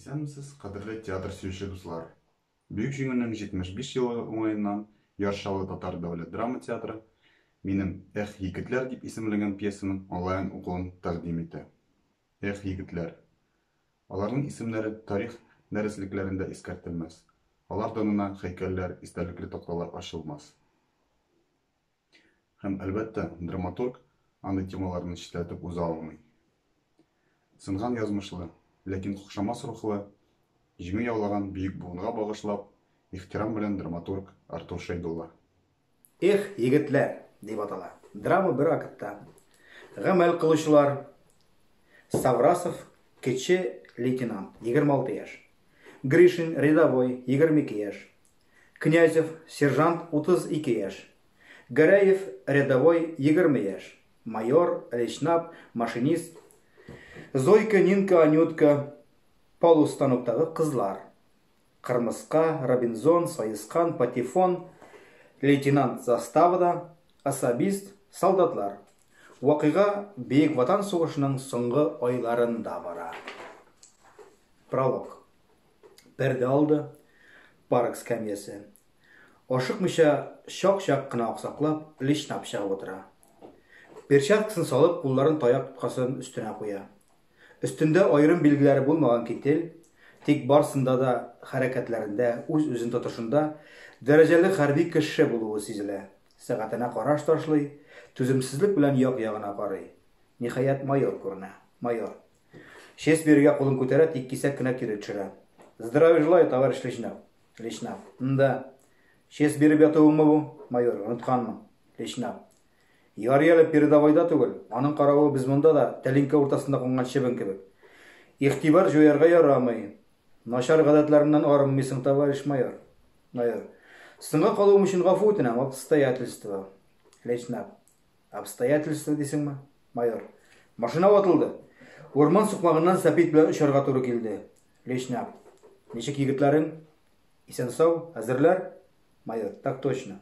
Исәнмесез, кадерле театр сөюче дуслар. Бөек җиңүнең 75 елы уңаеннан Яр Чаллы татар дәүләт драма театры минем Эх, егетләр дип исемләнгән пьесаның онлайн укуын тәкъдим итә. Эх, егетләр. Аларның исемнәре тарих дәреслекләрендә искәртелмәс, алар данына һәйкәлләр, истәлекле такталар ачылмас. Һәм, әлбәттә, драматург андый темаларны читләтеп уза алмый. Сынган язмышлы, ләкин кокшамас рухлы, җиңү яулаган бөек буынга багышлап, ихтирам белән драматург Артур Шәйдулла. Эх, егетләр! дип атала. Драма бер актта. Гамәл кылучылар, Саврасов, кече лейтенант, 26 яшь. Гришин, рядовой, 22 яшь. Князев, сержант, 32 яшь. Гәрәев, рядовой, 20 яшь. Майор, лейтенап, машинист. Зойка, Нинка, Анютка, полустаноктагы кызлар. Кырмыска, Робинзон, Саескан, Патефон, лейтенант заставада, особист, солдатлар. Вакыйга Бөек Ватан сугышының соңгы айларында бара. Пролог. Пәрдә алды, парк скамьясы. Ашыкмыйча, чак-чак кына аксаклап, личнап чыгып утыра. Перчаткасын салып, кулларын таяк тоткасын өстенә куя. Өстендә аерым билгеләре булмаган китель, тик барсында да хәрәкәтләрендә, үз-үзен тотышында дәрәҗәле хәрби кеше булуы сизелә. Сәгатенә караш ташлый, түземсезлек белән як-ягына карый. Ниһаять, майор күренә. Майор. Честь бирергә кулын күтәрә, тик кисәк кенә кире төшерә. Здравия желаю, товарищ Личнов. Личнов. М-да. Честь биреп ятуыңмы бу, майор, онытканмын. Личнов. Ярый әле передовойда түгел, аның каравы без монда да тәлинкә уртасында кунган чебен кебек. Игътибар җуярга ярамый. Начар гадәтләреңнән арынмыйсың, товарищ майор. Майор. Соңга калуым өчен гафу үтенәм, обстоятельства. Лейтенант. Обстоятельства дисеңме? Майор. Машина ватылды. Урман сукмагыннан сәпит белән очарга туры килде. Лейтенант. Ничек егетләрең? Исән-сау, әзерләр? Майор. Так точно.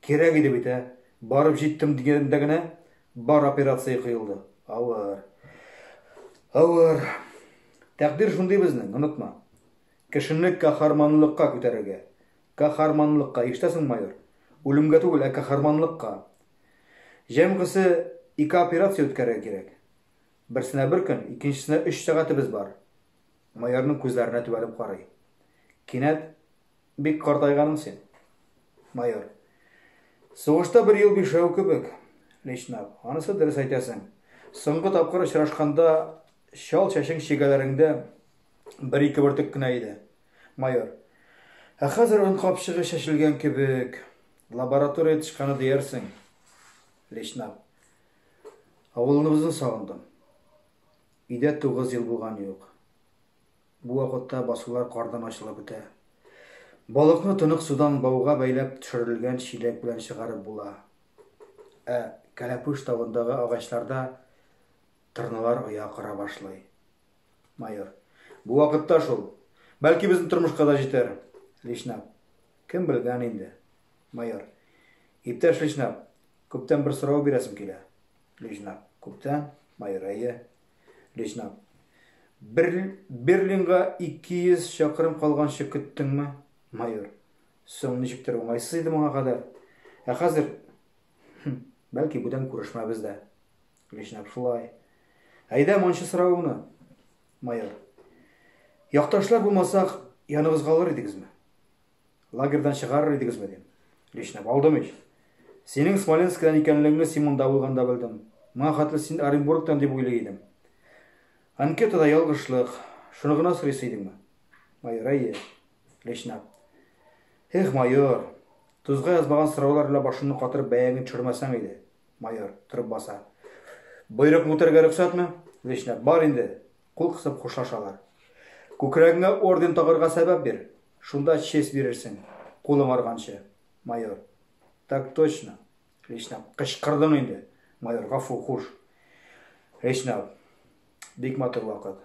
Кирәк иде бит, ә? Барып җиттем дигәндә генә бар операция кыелды. Авыр. Авыр. Тәкъдир шундый безнең, онытма. Кешене каһарманлыкка күтәрергә. Каһарманлыкка, ишетәсең, майор? Үлемгә түгел, ә каһарманлыкка. Җәмгысе ике операция үткәрергә кирәк. Берсенә бер көн, икенчесенә өч сәгатебез бар. Майорның күзләренә төбәлеп карый. Кинәт Бик картайганың син, майор. Сугышта бер ел бишәү кебек, Личнап. Анысы дөрес әйтәсең. Соңгы тапкыр очрашканда чал чәчең чигәләреңдә бер-ике бөртек кенә иде, майор. Ә хәзер он капчыгы чәчелгән кебек. Лаборатория тышканы диярсең, Личнап. Авылыбызны сагындым. Өйдә тугыз ел булган юк. Бу вакытта басулар кардан ачылып бетә. Балыкны тонык судан бауга бәйләп төшерелгән чиләк белән чыгарып була. Ә Кәләпүш тавындагы агачларда тырналар оя кора башлый. Майор. Бу вакытта шул. Бәлки безнең тормышка да җитәр. Личнап. Кем белгән инде. Майор. Иптәш личнап, күптән бер сорау бирәсем килә. Лежнак. Күптән Майрае. Лежнак. Бер, Берлинга 200 чакрым калганчы көттеңме? Майор. Соң ничектер уңайсыз иде моңа кадәр. Ә хәзер, бәлки бүтән күрешмәбез дә. Лежнак шулай. Әйдә, мончы соравыңны. Майор. Якташлар булмасак, яныгыз калыр идегезме? Лагерьдан чыгарыр идегезме, дим. Лишнәп алдым ич. Синең Смоленскидан икәнлегеңне Симонда булганда белдем. Моңа хәтле син Оренбургтан дип уйлый идем. Анкетада ялгышлык. Шуны гына сорыйсы идеңме? Майор, әйе. Лишнәп. Эх, майор, тузга язмаган сораулар белән башымны катырып бәягеңне төшермәсәң иде. Майор, торып баса. Боерыкны үтәргә рөхсәтме? Лишнәп, бар инде. Кул кысып хушлашалар. Күкрәгеңә орден тагырга сәбәп бир, шунда честь бирерсең, кулың арганчы, майор. Так точно, личнап. Кычкырдың инде, майор, гафу, хуш. Личнап. Бик матур вакыт.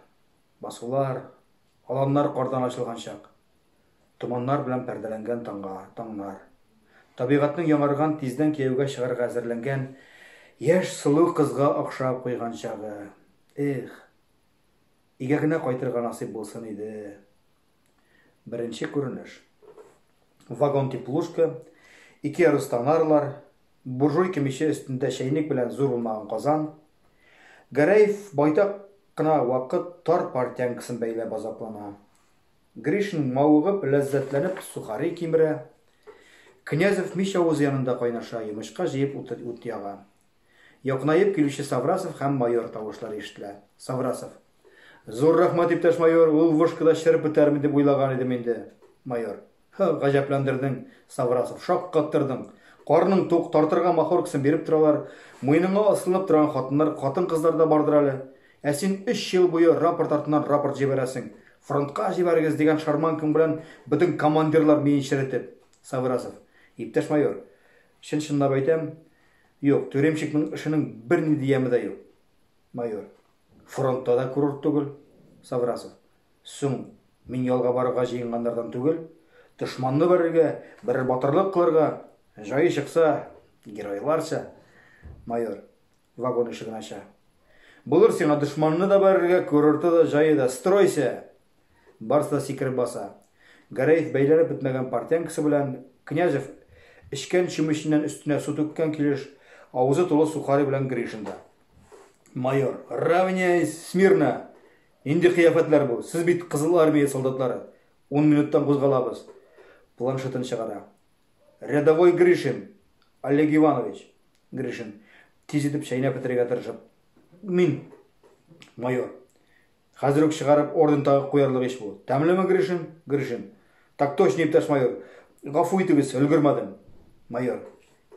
Басулар, аланнар кардан ачылган чак. Томаннар белән пәрдәләнгән таңга, таңнар. Табигатьнең яңарган, тиздән кияүгә чыгарга әзерләнгән яшь сылу кызга охшап куйган чагы. Эх. Өйгә генә кайтырга насыйп булсын иде. Беренче күренеш. Вагон теплушка, ике яры станарлар, буржуйка миче өстендә чәйник белән зур унмаган казан. Гәрәев байтак кына вакыт тар пар тянкасын бәйләп азаплана. Гришин мавыгып, ләззәтләнеп сухари кимерә. Князев мич авызы янында кайнаша йомычка җыеп ут яга. Якынаеп килүче Саврасов һәм майор тавышлары ишетелә. Саврасов. Зур рәхмәт, иптәш майор, ул вышкада череп бетәрмен дип уйлаган идем инде. Майор. Һы, гаҗәпләндердең, Саврасов, шаккаттырдың. Карның тук, тартырга махоркасын биреп торалар, муеныңа асланып торган хатыннар, хатын-кызлар да бардыр әле. Ә син өч ел буе рапорт артыннан рапорт җибәрәсең. Фронтка җибәрегез дигән шарманкаң белән бөтен командирлар миен черетеп. Саврасов. Иптәш майор, Чын-чынлап әйтәм, юк, тюремщикның эшенең бернинди яме дә юк. Майор. Фронтта да курорт түгел. Саврасов. Соң, мин ялга барырга җыенганнардан түгел. Дошманны бәрергә, берәр батырлык кылырга, җае чыкса, геройларча. Майор. Вагон ишеген ача. Булыр сиңа дошманны да бәрергә, курорты да, җае да. Стройся! Барысы да сикереп баса. Гәрәев бәйләнеп бетмәгән портянкасы белән Князев эчкән чүмеченнән өстенә су түккән килеш, авызы тулы сухари белән Гришин да. Майор, равняйсь смирно! Нинди кыяфәтләр бу? Сез бит Кызыл Армия солдатлары. Ун минуттан кузгалабыз. Планшетын чыгара. Рядовой Гришин, Олег Иванович. Гришин, тиз итеп чәйнәп бетерергә тырышып. Мин, майор. Хәзер үк чыгарып орден тагып куярлык ич бу. Тәмлеме, Гришин? Гришин. Так точно, иптәш майор. Гафу итегез, өлгермәдем. Майор.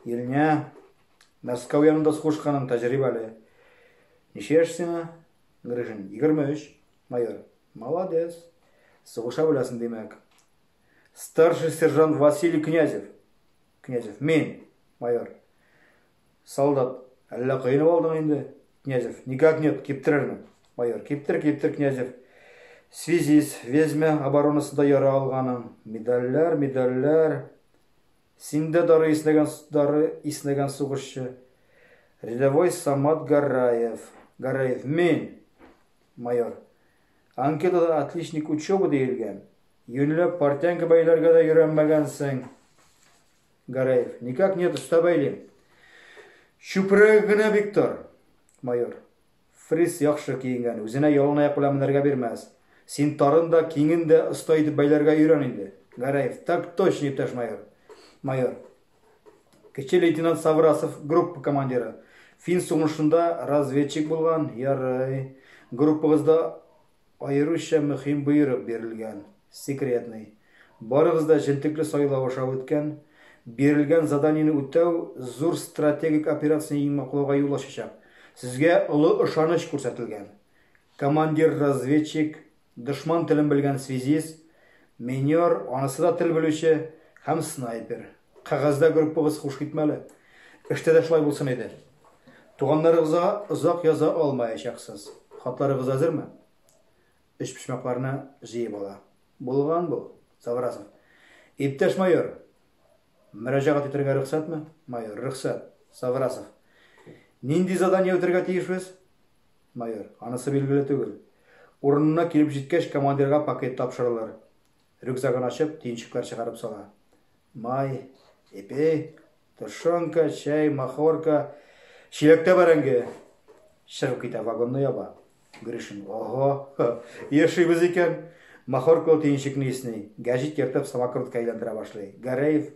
Иреңә Мәскәү янында сугышканың тәҗрибәле. Ничә яшь сиңа? Гришин. Егерме өч. Майор. Молодец. Сугыша беләсең, димәк. Старший сержант Василий Князев. Князев. Мин. Майор. Солдат. Әллә коенып алдың инде? Князев. Никак нет, киптерермен. Майор. Киптер, киптер, Князев. Связист, Везьмә оборонасында яра алганың. Медальләр, медальләр. Син дә дары иснәгән, дары иснәгән сугышчы. Рядовой Самат Гараев. Гараев. Мин. Майор. Анкетада отличник учебы диелгән. Юньләп партянка бәйләргә дә йөрәмәгәнсең. Гараев. Никак нет, оста бәйлим. Чүпрәге генә бик тар. Майор. Фрис яхшы киенгән, үзенә ялан аяк белән менәргә бирмәс. Син тарын да, киңен дә оста итеп бәйләргә өйрән инде. Гараев. Так точно, иптәш майор. Майор. Кече лейтенант Саврасов группа командиры. Фин сугышында разведчик булган, ярый. Группагызда Аеруча мөхим боерык бирелгән, секретный. Барыгыз да җентекле сайлау аша үткән. Бирелгән заданиене үтәү зур стратегик операцияне йиңмаклауга юл ачачак. Сезгә олы ышаныч күрсәтелгән. Командир-разведчик, дошман телен белгән связист, минер, анысы да тел белүче, һәм снайпер. Кәгазьдә группагыз хуш китмәле. Эштә дә шулай булсын иде. Туганнарыгызга озак яза алмаячаксыз. Хатларыгыз әзерме? Өчпочмакларны җыеп ала. Булган бу, Саврасов. Иптәш майор! Мөрәҗәгать итәргә рөхсәтме? Майор, рөхсәт. Саврасов. Нинди задание үтәргә тиешбез? Майор, анысы билгеле түгел. Урынына килеп җиткәч, командирга пакет тапшырылыр. Рюкзагын ачып, төенчекләр чыгарып сала. Май, эпи, тошонка, чәй, махорка, чиләктә бәрәңге. Чыгып китә, вагонны яба. Гришин, ого, яшибез икән. Махоркалы төенчекне исни, гәҗит ертып самокрутка әйләндерә башлый. Гәрәев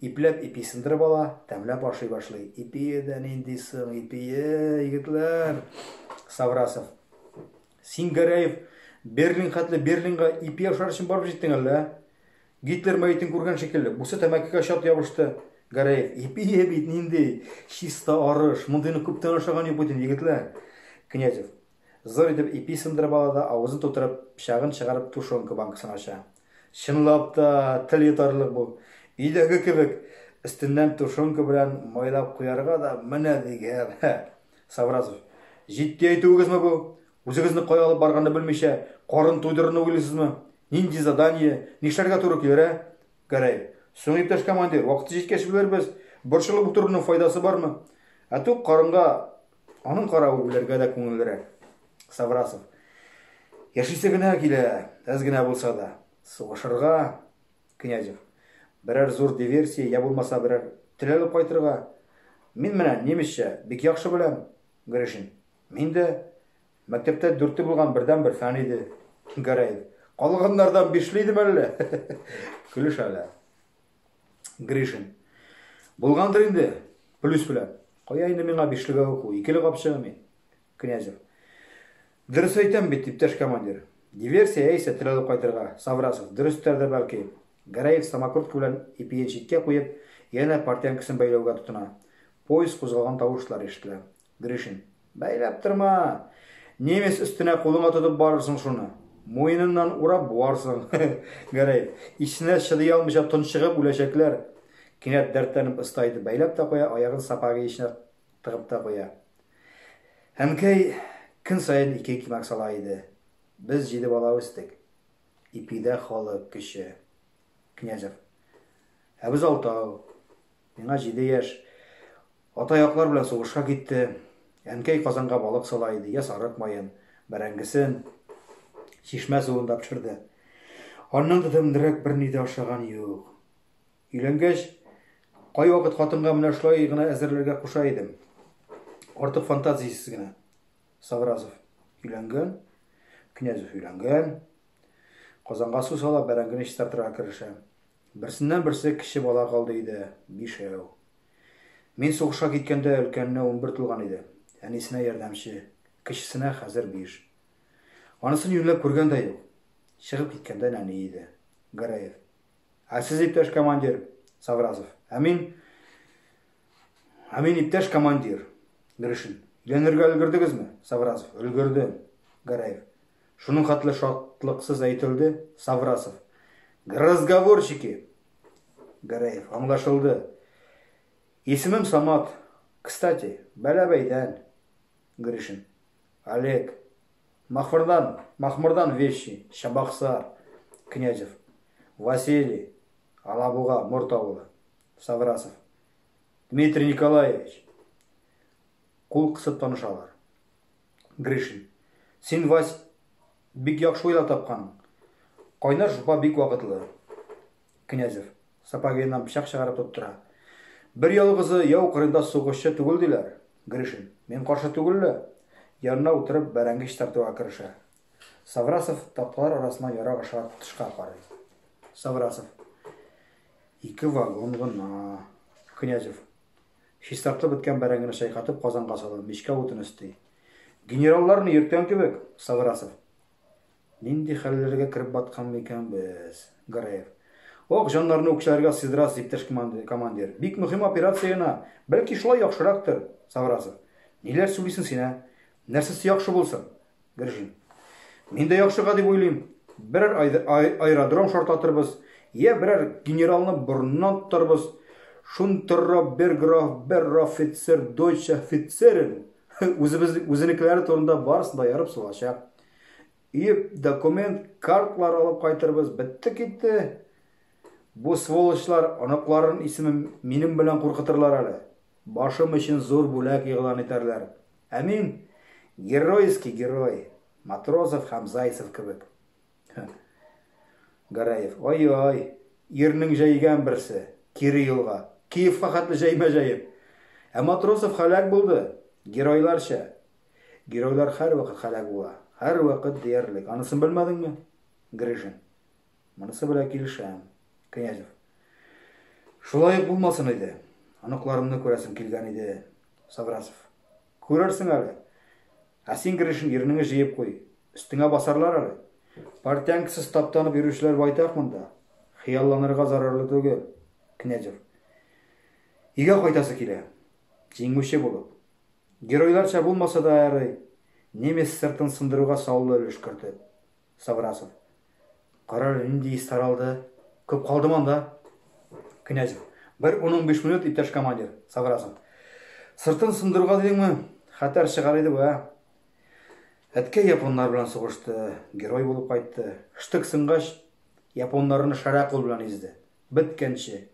ипләп ипи сындырып ала, тәмләп ашый башлый. Ипие дә нинди соң, ипие, егетләр! Саврасов. Син, Гәрәев, Берлин хәтле Берлинга ипи ашар өчен барып җиттең әллә? ә? Гитлер мәетен күргән шикелле, бусы тәмәкегә чат ябышты. Гәрәев, Ипие бит нинди чиста арыш, мондыйны күптән ашаган юк бит инде, егетләр. Князев, зур итеп ипи сындырып ала да, авызын тутырып, пычагын чыгарып тушенка банкасын ача. Чынлап та, тел йотарлык бу. Өйдәге кебек, өстеннән тушенка белән майлап куярга да менә дигән. Савразов. Җитди әйтүегезме бу? Үзегезне кая алып барганны белмичә, карын туйдырырны уйлыйсызмы? Нинди задание? Нишләргә туры килер, ә? Гәрәй. Соң, иптәш командир, вакыты җиткәч белербез. Борчылып утыруның файдасы бармы? Ә тук карынга аның каравы үләргә дә күңеллерәк. Саврасов. Яшисе генә килә, әз генә булса да. Сугышырга, Князев. Берәр зур диверсия йә булмаса берәр тел алып кайтырга. Мин менә немецчә бик яхшы беләм. Гришин. Мин дә. Мәктәптә дүрте булган бердәнбер фән иде. Гәрәев. Калганнардан бишле идеме әллә? Көлешәләр. Гришин. Булгандыр инде, плюс белән. Кая инде миңа бишлегә уку, икеле капчыгы мин. Князев. Дөрес әйтәм бит, иптәш командир. Диверсия яисә терелеп кайтырга, Саврасов, дөрестер дә бәлки. Гәрәев самокрутка белән ипиен читкә куеп, янә портянкасын бәйләүгә тотына. Поезд кузгалган тавышлар ишетелә. Гришин. Бәйләп торма! Немец өстенә кулыңа тотып барырсың шуны. Муеныннан урап буарсың. Гәрәев. Исенә чыдый алмыйча тончыгып үләчәкләр. Кинәт дәртләнеп ыска итеп бәйләп тә куя, аягын сапогы эченә Тыгып та куя. Әнкәй көн саен ике икмәк сала иде. Без җиде бала үстек. Ипидә халык көче. Князев. Ә без алтау. Миңа җиде яшь. Атаяклар белән сугышка китте. Әнкәй казанга балык сала иде, йә сарык маен, бәрәңгесен, чишмә суын да пешерде. Аннан да тәмлерәк берни дә ашаган юк. Өйләнгәч, кайвакыт хатынга менә шулай гына әзерләргә куша идем. Артык фантазиясез генә. Савразов өйләнгән, Князев өйләнгән. Казанга су сала, бәрәңгене чистартырга керешә. Берсеннән-берсе кече бала калды иде, бишәү. Мин сугышка киткәндә өлкәненә унбер тулган иде. Әнисенә ярдәмче, кечесенә хәзер биш. Анысын юньләп күргән дә юк. Чыгып киткәндә нәни иде. Гәрәев. Ә сез, иптәш командир Савразов? Ә мин... Ә мин, иптәш командир Гришин. Өйләнергә өлгердегезме, Савразов? Өлгерде, Гараев. Шуның хәтле шатлыксыз әйтелде, Саврасов. Разговорчики! Гараев, аңлашылды. Исемем Самат. Кстати, бәләбәйдән. Гришин. Олег. Махмырдан, махмырдан вещи, Чабаксар, Князев. Василий. Алабуга, Морт авылы. Саврасов. Дмитрий Николаевич. Кул кысып танышалар. Гришин. Син, Вась, бик яхшы уйлап тапкан. Кайнар шупа бик вакытлы. Князев. Сапогыннан пычак чыгарып тоттыра. Бер ялгызы яу кырында сугышчы түгел, диләр. Гришин. Мин каршы түгел лә. Янына утырып, бәрәңге чистартуга керешә. Саврасов такталар арасына ярак аша тышка карый. Саврасов. Ике вагон гына. Князев. Чистартылып беткән бәрәңгене чайкатып казанга сала, мичкә утын өсти. Генералларны йөрткән кебек, Саврасов. Нинди хәлләргә кереп баткан микән без? Гараев. Ох, җаннарны үкчәләргә сыйдырасыз, иптәш командир. Бик мөһим операция гына. Бәлки шулай яхшырактыр? Саврасов. Ниләр сүлисең син, ә? Нәрсәсе яхшы булсын? Гржин. Мин дә яхшыга дип уйлыйм. Берәр аэродром шартлатырбыз, йә берәр генералны борыннан тотарбыз. Шунтырра бер граф, бер рафицер, дойча фицерен. Үзебез, үзенекеләре турында барысы да ярып сугачак. Өеп документ, картлар алып кайтырбыз, бетте китте. Бу сволочлар оныкларын исеме минем белән куркытырлар әле. Башым өчен зур бүләк игълан итәрләр. Ә мин геройский герой, Матросов һәм Зайцев кебек. Гараев, ай-ай, ирнең җәйгән берсе, кире юлга. Киевка хәтле җәймә җәеп. Ә Матросов халәк булды, геройларча. Геройлар һәрвакыт һәлак була. Һәрвакыт диярлек. Анысын белмәдеңме? Гришин. Монысы белән килешәм. Князев. Шулай ук булмасын иде. Оныкларымны күрәсем килгән иде. Саврасов. Күрерсең әле. Ә син, Гришин, ирнеңе җыеп куй. Өстеңә басарлар әле. Портянкасыз таптанып йөрүчеләр байтак монда. Хыялланырга зарарлы түгел. Князев. Өйгә кайтасы килә. Җиңүче булып. Геройларча булмаса да ярый, немец сыртын сындыруга саллы өлеш кертеп. Саврасов. Кара әле, нинди ис таралды. Күп калдымы анда? Князев. Бер ун-унбиш минут, иптәш командир. Саврасов. Сыртын сындыруга дидеңме? Хәтәр чыгар иде бу, ә? Әткәй японнар белән сугышты, герой булып кайтты. Штык сынгач, японнарны шәрә кул белән изде. Беткәнче.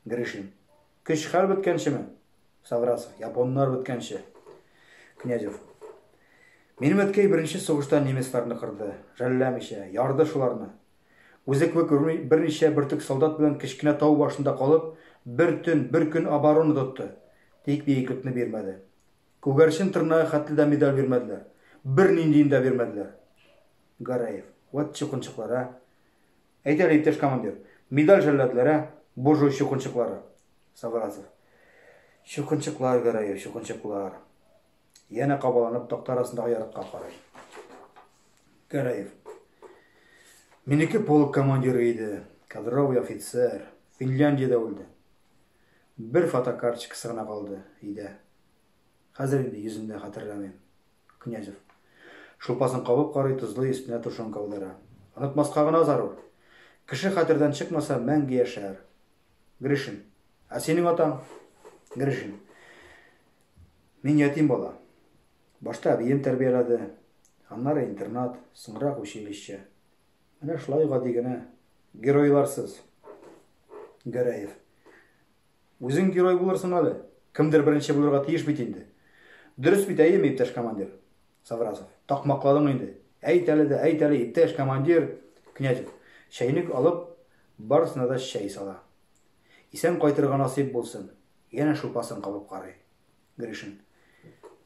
Гришин. Көч-хәл беткәнчеме? Саграсың, японнар беткәнче. Князев. Минем әткәй беренче сугышта немецларны кырды, жәлләмичә, ярды шуларны. Үзе кебек берничә бөртек солдат белән кечкенә тау башында калып, бер төн, бер көн оборона тотты. Тик биеклекне бирмәде. Күгәрчен тырнагы хәтле дә медаль бирмәделәр. Берниндиен дә бирмәделәр. Гарәев. Вәт чукынчыклар, ә! Әйт әле, иптәш командир, медаль җәлладлары, буржуй чукынчыклары? Саврасов. Чукынчыклар, Гәрәев, чукынчыклар. Янә кабаланып такта арасындагы ярыкка карый. Гәрәев. Минеке полк командиры иде, кадровый офицер, Финляндиядә үлде. Бер фотокарточкасы гына калды, өйдә. Хәзер инде йөзен дә хәтерләмим. Князев. Шулпасын кабып карый, тозлый, өстенә тушенка аудара. Онытмаска гына зарур. Кеше хәтердән чыкмаса, мәңге яшәр. Гришин. Ә синең атаң? Гришин. Мин ятим бала. Башта әбием тәрбияләде. Аннары интернат, соңрак училище. Менә шулай гади генә. Геройларсыз. Гәрәев. Үзең герой булырсың әле. Кемдер беренче булырга тиеш бит инде. Дөрес бит, әйеме, иптәш командир? Саврасов. Такмакладың инде. Әйт әле дә, әйт әле, иптәш командир! Князев, чәйнек алып, барысына да чәй сала. Исән кайтырга насыйп булсын! Янә шулпасын кабып карый. Гришин.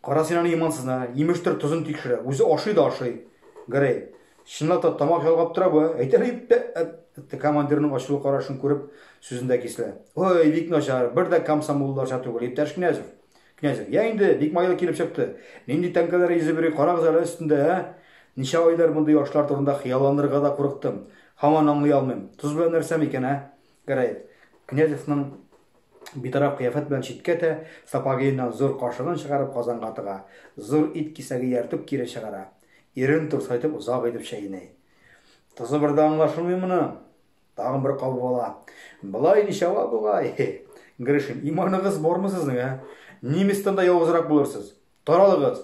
Кара син аны имансызны, имештер тозын тикшерә. Үзе ашый да ашый. Грей. Чынлап та тамак ялгап тора бу. Әйтер дип тә әтте командирның ачулы карашын күреп, сүзендә кисле. Ой, бик начар, бер дә комсомолларча түгел, иптәш Князев. Князев. Я инде, бик майлы килеп чыкты. Нинди тәңкәләр йөзеп йөри, карагыз әле өстендә, ә? Ничә айлар мондый ашлар турында хыялланырга да курыктым. Һаман аңлый алмыйм. Тоз белән нәрсә микән, ә? Гәрәй, Князевның битараф кыяфәт белән читкә тә, сапогыеннан зур кашыгын чыгарып казанга тыга, зур ит кисәге ияртеп кире чыгара. Ирен турсайтып озак итеп чәйни. Тозы бер дә аңлашылмый моны. Тагын бер кабып ала. Былай ничә ва бугай? Гришин, иманыгыз бармы сезнең, ә? Немецтан да явызрак булырсыз. Таралыгыз!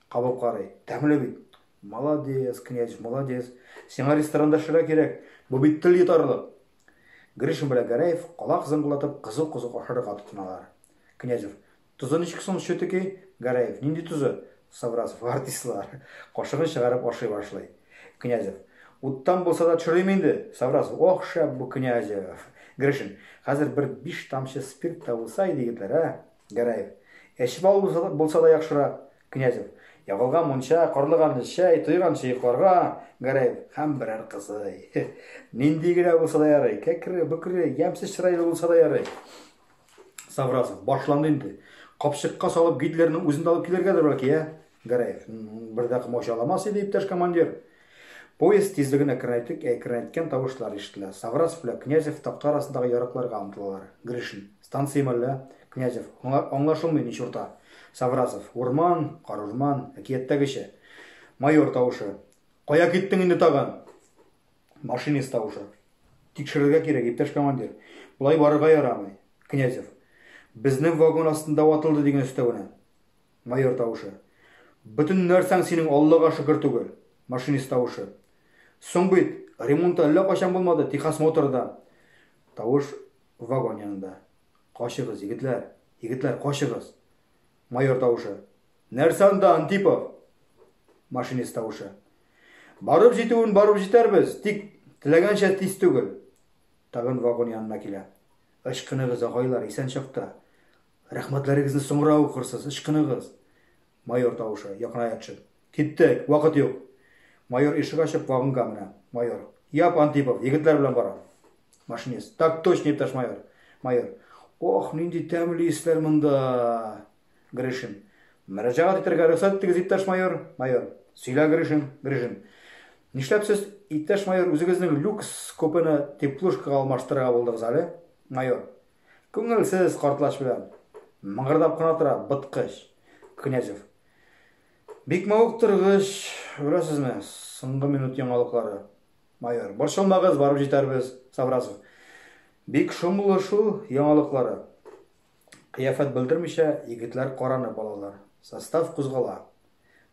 Кабып карый. Тәмле бит. Молодец, князь, молодец. Сиңа ресторанда шыра кирәк. Бу бит тел йотарлык. Гришин белән Гәрәев колак зыңгылатып кызу-кызу ашарга тотыналар. Князев. Тозы ничек соң, щетыки? Гәрәев. Нинди тозы? Саврасов. Артистлар. Кашыгын чыгарып ашый башлый. Князев. Уттан булса да төшерим инде. Саврасов. Ох, шәп бу, Князев. Гришин. Хәзер бер биш тамчы спирт та булса иде, егетләр, ә? Гәрәев. Эчеп алу булса, булса да яхшырак. Князев. Ягылган мунча, карлыганны чәй, туйганчы йокларга. Гәрәев. Һәм берәр кызый. Нинди генә булса да ярый. Кәкре, бөкре, ямьсез чырайлы булса да ярый. Савразов. Башланды инде. Капчыкка салып Гитлерның үзен дә алып килергәдер бәлки, ә? Гәрәев, бер дә комач аламас иде, иптәш командир. Поезд тизлегенә керәйтек, ә керәйткән тавышлар ишетелә. Саврасов белән Князев такта арасындагы ярыкларга омтылалар. Гришин, станцияме әллә? Князев, аңлашылмый ни чурта. Саврасов, урман, карурман, әкияттәгечә. Майор тавышы. Кая киттең инде тагын? Машинист тавышы. Тикшерергә кирәк, иптәш командир. Болай барырга ярамый. Князев. Безнең вагон астында ватылды дигән өстәвенә. Майор тавышы. Бөтен нәрсәң синең Аллага шөкер түгел. Машинист тавышы. Соң бит, ремонты әллә кайчан булмады, техосмотры да. Тавыш вагон янында. Качыгыз, егетләр, егетләр, качыгыз. Майор тавышы. Нәрсә анда, Антипов? Машинист тавышы. Барып җитүен барып җитәрбез, тик теләгәнчә тиз түгел. Тагын вагон янына килә. Ычкыныгыз, агайлар, исән чакта. Рәхмәтләрегезне соңра укырсыз, ычкыныгыз! Майор тавышы, якыная төшеп. Киттек! Вакыт юк! Майор ишек ачып, вагонга менә. Майор. Яп, Антипов, егетләр белән барам. Машинист. Так точно, иптәш майор! Майор. Ох, нинди тәмле исләр монда! Гришин. Мөрәҗәгать итәргә рөхсәт итегез, иптәш майор! Майор. Сөйлә, Гришин! Гришин. Нишләп сез, иптәш майор, үзегезнең люкс купены теплушкага алмаштырырга булдыгыз әле? Майор. Күңелсез картлач белән мыңгырдап кына тора быткыч. Князев. Бик мавыктыргыч, беләсезме, соңгы минут яңалыклары. Майор. Борчылмагыз, барып җитәрбез. Саврасов. Бик шомлы шул яңалыклары. Кыяфәт белдермичә, егетләр каранып алалар. Состав кузгала.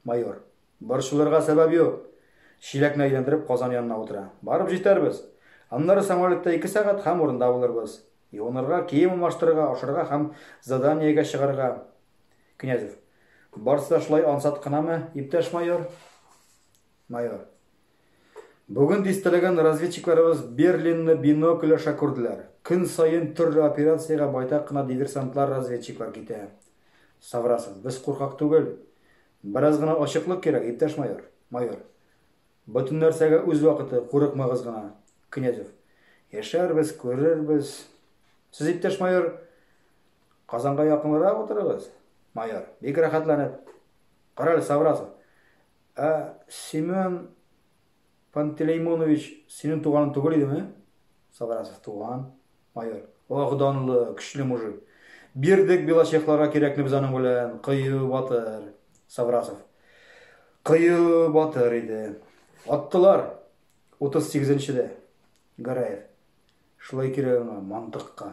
Майор. Борчылырга сәбәп юк. Чиләкне әйләндереп казан янына утыра. Барып җитәрбез. Аннары самолетта ике сәгать һәм урында булырбыз. Юынырга, кием алмаштырырга, ашарга һәм заданиегә чыгарга. Князев. Барсы да шулай ансат кынамы, иптәш майор? Майор. Бүген дистәләгән разведчикларыбыз Берлинны бинокль аша күрделәр. Көн саен төрле операциягә байтак кына диверсантлар-разведчиклар китә. Саврасов. Без куркак түгел. Бераз гына ачыклык кирәк, иптәш майор. Майор. Бөтен нәрсәгә үз вакыты, курыкмагыз гына. Князев. Яшәрбез, күрербез. Сез, иптәш майор, Казанга якынрак утырыгыз. Майор. Бик рәхәтләнеп. Карале, Саврасов. Ә Семен Пантелеймонович синең туганың түгел идеме? Саврасов, туган. Майор, ох, данлы, көчле мужик. Бирдек белочехларга кирәкне без аның белән, кыю батыр. Саврасов, кыю батыр иде. Аттылар, утыз сигезенчедә. Гәрәев, шулай кирәк аңа, мантыкка.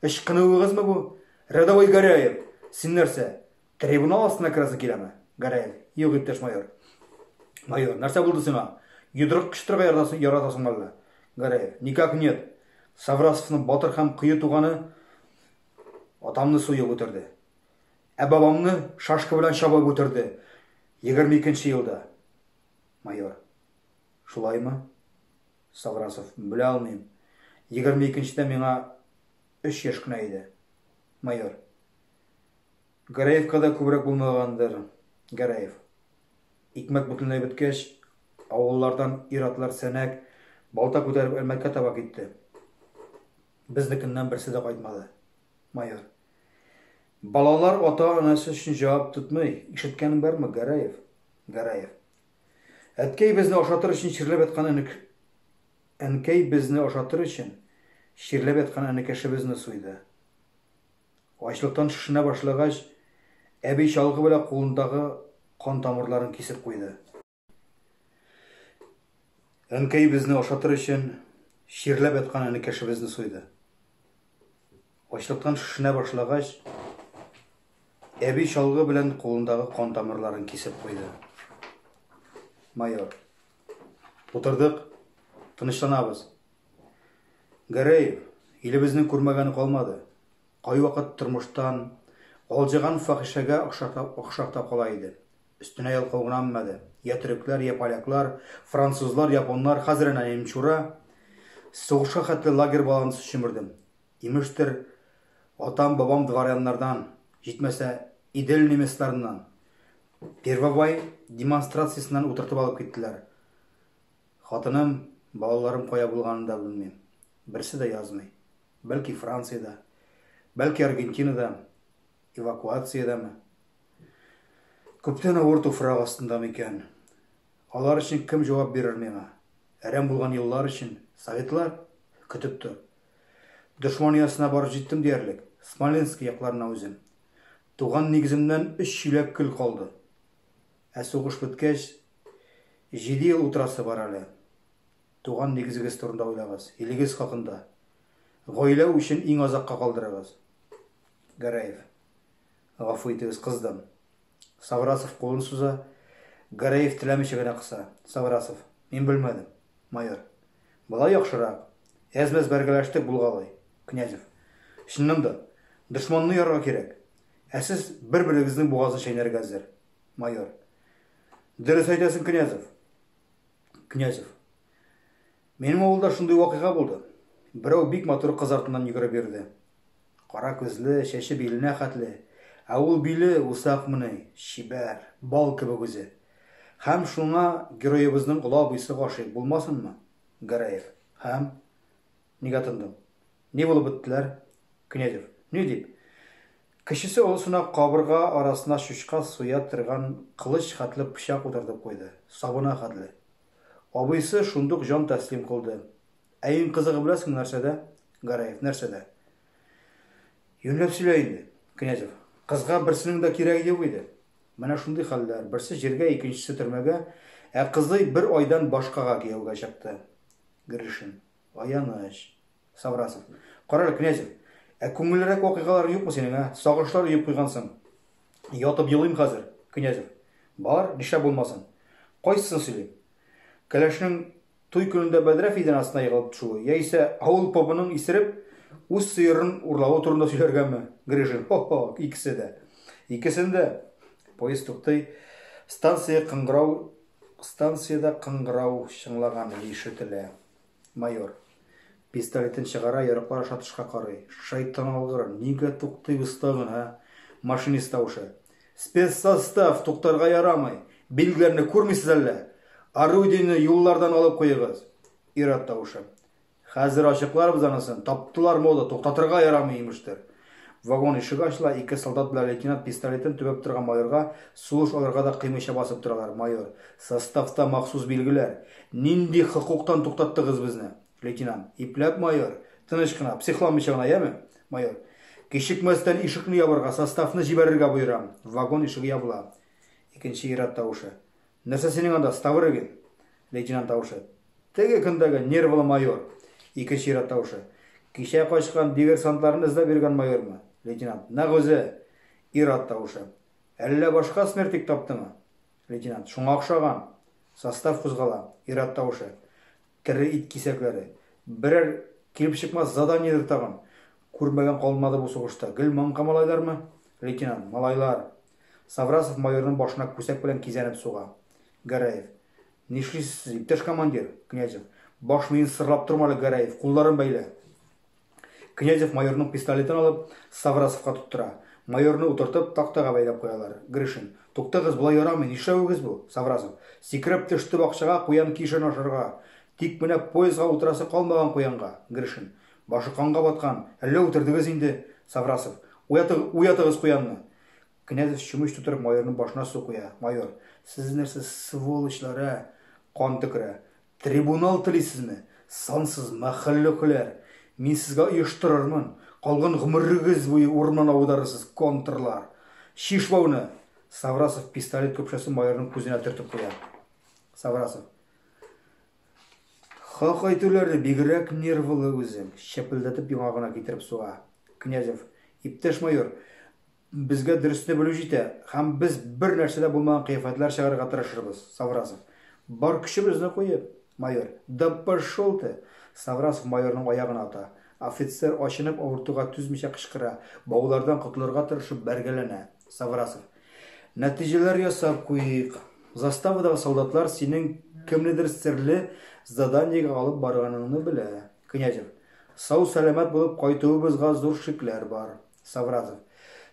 Ычкынуыгызмы бу? Рядовой Горяев, син нәрсә, трибунал астына керәсе киләме? Горяев, юк, иптәш майор. Майор, нәрсә булды сиңа? Йодрык кычытырга яратасың, яратасың әллә? Горяев, никак нет. Саврасовның батыр һәм кыю туганы атамны суеп үтерде. Ә бабамны шашка белән чабып үтерде. 22 нче елда. Майор. Шулаймы? Саврасов, Белә алмыйм. Егерме икенчедә миңа өч яшь кенә иде. Майор. Гәрәевкада күбрәк булмагандыр. Гәрәев. Икмәк бөтенләй беткәч, авыллардан ир-атлар сәнәк, балта күтәреп Әлмәткә таба китте. Безнекеннән берсе дә кайтмады. Майор. Балалар ата-анасы өчен җавап тотмый. Ишеткәнең бармы, Гәрәев? Гәрәев. Әткәй безне ашатыр өчен чирләп яткан энек Әнкәй безне ашатыр өчен чирләп яткан энекәшебезне суйды. Ачлыктан шешенә башлагач, әби чалгы белән кулындагы кан тамырларын кисеп куйды. Әнкәй безне ашатыр өчен чирләп яткан энекәшебезне суйды. Ачлыктан шешенә башлагач, әби чалгы белән кулындагы кан тамырларын кисеп куйды. Майор. Утырдык, тынычланабыз. Гәрәев, илебезнең күрмәгәне калмады. Кайвакыт тормыштан алҗыган фахишәгә охшап та кала иде. Өстенә ялкау гынаммады. Я төрекләр, я поляклар, французлар, японнар, хәзер әнә немчура. Сугышка хәтле лагерь балансы чөмердем. Имештер, атам-бабам дворяннардан, җитмәсә, Идел немецларыннан, Первовай демонстрациясеннән утыртып алып киттеләр. Хатыным, балаларым кая булганын да белмим. Берсе дә язмый. Бәлки Франциядә, бәлки Аргентинада, эвакуациядәме? Күптән авыр туфрак астында микән? Алар өчен кем җавап бирер миңа? Әрәм булган еллар өчен советлар көтеп тор. Дошман оясына барып җиттем диярлек, Смоленски якларына үзем. Туган нигеземнән өч чиләк көл калды. Ә сугыш беткәч, җиде ел утырасы бар әле. Туган нигезегез турында уйлагыз, илегез хакында. Гаилә үчен иң азакка калдырыгыз. Гәрәев. Гафу итегез, кыздым. Саврасов кулын суза. Гәрәев теләмичә генә кыса. Саврасов. Мин белмәдем. Майор. Болай яхшырак. Әз-мәз бәргәләштек булгалый. Князев. Чыннан да, дошманны ярырга кирәк. Ә сез бер-берегезнең бугазын чәйнәргә әзер. Майор. Дөрес әйтәсең, Князев. Князев. Минем авылда шундый вакыйга булды. Берәү бик матур кыз артыннан йөгереп йөрде. Кара күзле, чәче биленә хәтле. Ә ул биле усакмыни, чибәр, бал кебек үзе. Һәм шуңа героебызның олы абыйсы гашыйк булмасынмы? Гәрәев. Һәм Нигә тындың? Ни булып беттеләр? Князев. Ни дип? Кечесе олысына кабырга арасына чучка суя торган кылыч хәтле пычак утыртып куйды. Сабына хәтле. Абыйсы шундук җан тәслим кылды. Ә иң кызыгы беләсеңме нәрсәдә, Гәрәев, нәрсәдә? Юньләп сөйлә инде. Князев. Кызга берсенең дә кирәге юк иде. Менә шундый хәлләр, берсе җиргә, икенчесе төрмәгә, ә кызый бер айдан башкага кияүгә чыкты. Гришин. Аяныч. Саврасов. Карале, Князев, ә күңеллерәк вакыйгалар юкмы синең, ә? Сагышлар өеп куйгансың. Ятып елыйм хәзер. Князев. Бар, нишләп булмасын. Кайсысын сөйлим? Кәләшнең туй көнендә бәдрәф идән астына егылып төшүе, яисә авыл побының исереп, үз сыерын урлавы турында сөйләргәме? Грижин. Хо-хо, икесе дә. Икесен дә. Поезд туктый. Станция кыңгырау Станциядә кыңгырау чыңлаган ишетелә. Майор. Пистолетын чыгара, ярыклар аша тышка карый. Шайтан алгыр, нигә туктыйбыз тагын, ә? Машинист тавышы. Спецсостав, туктарга ярамый! Билгеләрне күрмисез әллә? Орудиене юллардан алып куегыз! Ир-ат тавышы. Хәзер ачыкларбыз анысын. Таптылар мода, туктатырга ярамый, имештер. Вагон ишеге ачыла, ике солдат белән лейтенант пистолетын төбәп торган майорга сулыш алырга да кыймыйча басып торалар. Майор, Составта махсус билгеләр. Нинди хокуктан туктаттыгыз безне? Лейтенант, Ипләп, майор. Тыныч кына, психламыйча гына, яме? Майор, Кичекмәстән ишекне ябарга, составны җибәрергә боерам. Вагон ишеге ябыла. Икенче ир-ат тавышы. Нәрсә синең анда, Ставрыгин? Лейтенант тавышы. Теге көндәге нервлы майор. Икенче ир-ат тавышы. Кичә качкан дивер-сантларны эзләп йөргән майормы? Лейтенант. Нәкъ үзе! Ир-ат тавышы. Әллә башка смертик таптымы? Лейтенант. Шуңа охшаган. Состав кузгала. Ир-ат тавышы. Тере ит кисәкләре. Берәр килеп чыкмас заданиедер тагын. Күрмәгән калмады бу сугышта. Гел маңка малайлармы? Лейтенант. Малайлар. Саврасов майорның башына күсәк белән кизәнеп суга. Гәрәев. Нишлисез, иптәш командир? Князев. Баш миен сырлап торма әле, Гәрәев, кулларын бәйлә. Князев майорның пистолетын алып, Саврасовка тоттыра. Майорны утыртып, тактага бәйләп куялар. Гришин. Туктагыз, болай ярамый, нишләвегез бу? Саврасов. Сикереп төште бакчага куян кишен ашарга. Тик менә поездга утырасы калмаган куянга. Гришин. Башы канга баткан, әллә үтердегез инде? Саврасов. Уятыгыз куянны! Князев чүмеч тутырып майорның башына су куя. Майор, сез нәрсә сволочлар, ә? Кан төкерә. Трибунал телисезме? Сансыз мәхәлләкүләр! Мин сезгә оештырырмын! Калган гомерегез буе урман аударырсыз, контрлар! Чиш бауны! Саврасов пистолет көпшәсен майорның күзенә төртеп куя. Саврасов. Хак әйтүләре, бигрәк нервылы үзең, чәпелдәтеп яңа гына китереп суга. Князев, иптәш майор, безгә дөресне белү җитә, һәм без бер нәрсә дә булмаган кыяфәтләр чыгарырга тырышырбыз, Саврасов. Бар көчебезне куеп. Майор, да пошел ты! Саврасов майорның аягына ата. Офицер, ачынып, авыртуга түзмичә кычкыра, баулардан котылырга тырышып бәргәләнә. Саврасов, Нәтиҗәләр ясап куйыйк. Заставадагы солдатлар синең кемнедер серле заданиегә алып барганыңны белә. Князев. Сау-сәламәт булып кайтуыбызга зур шикләр бар. Савразов.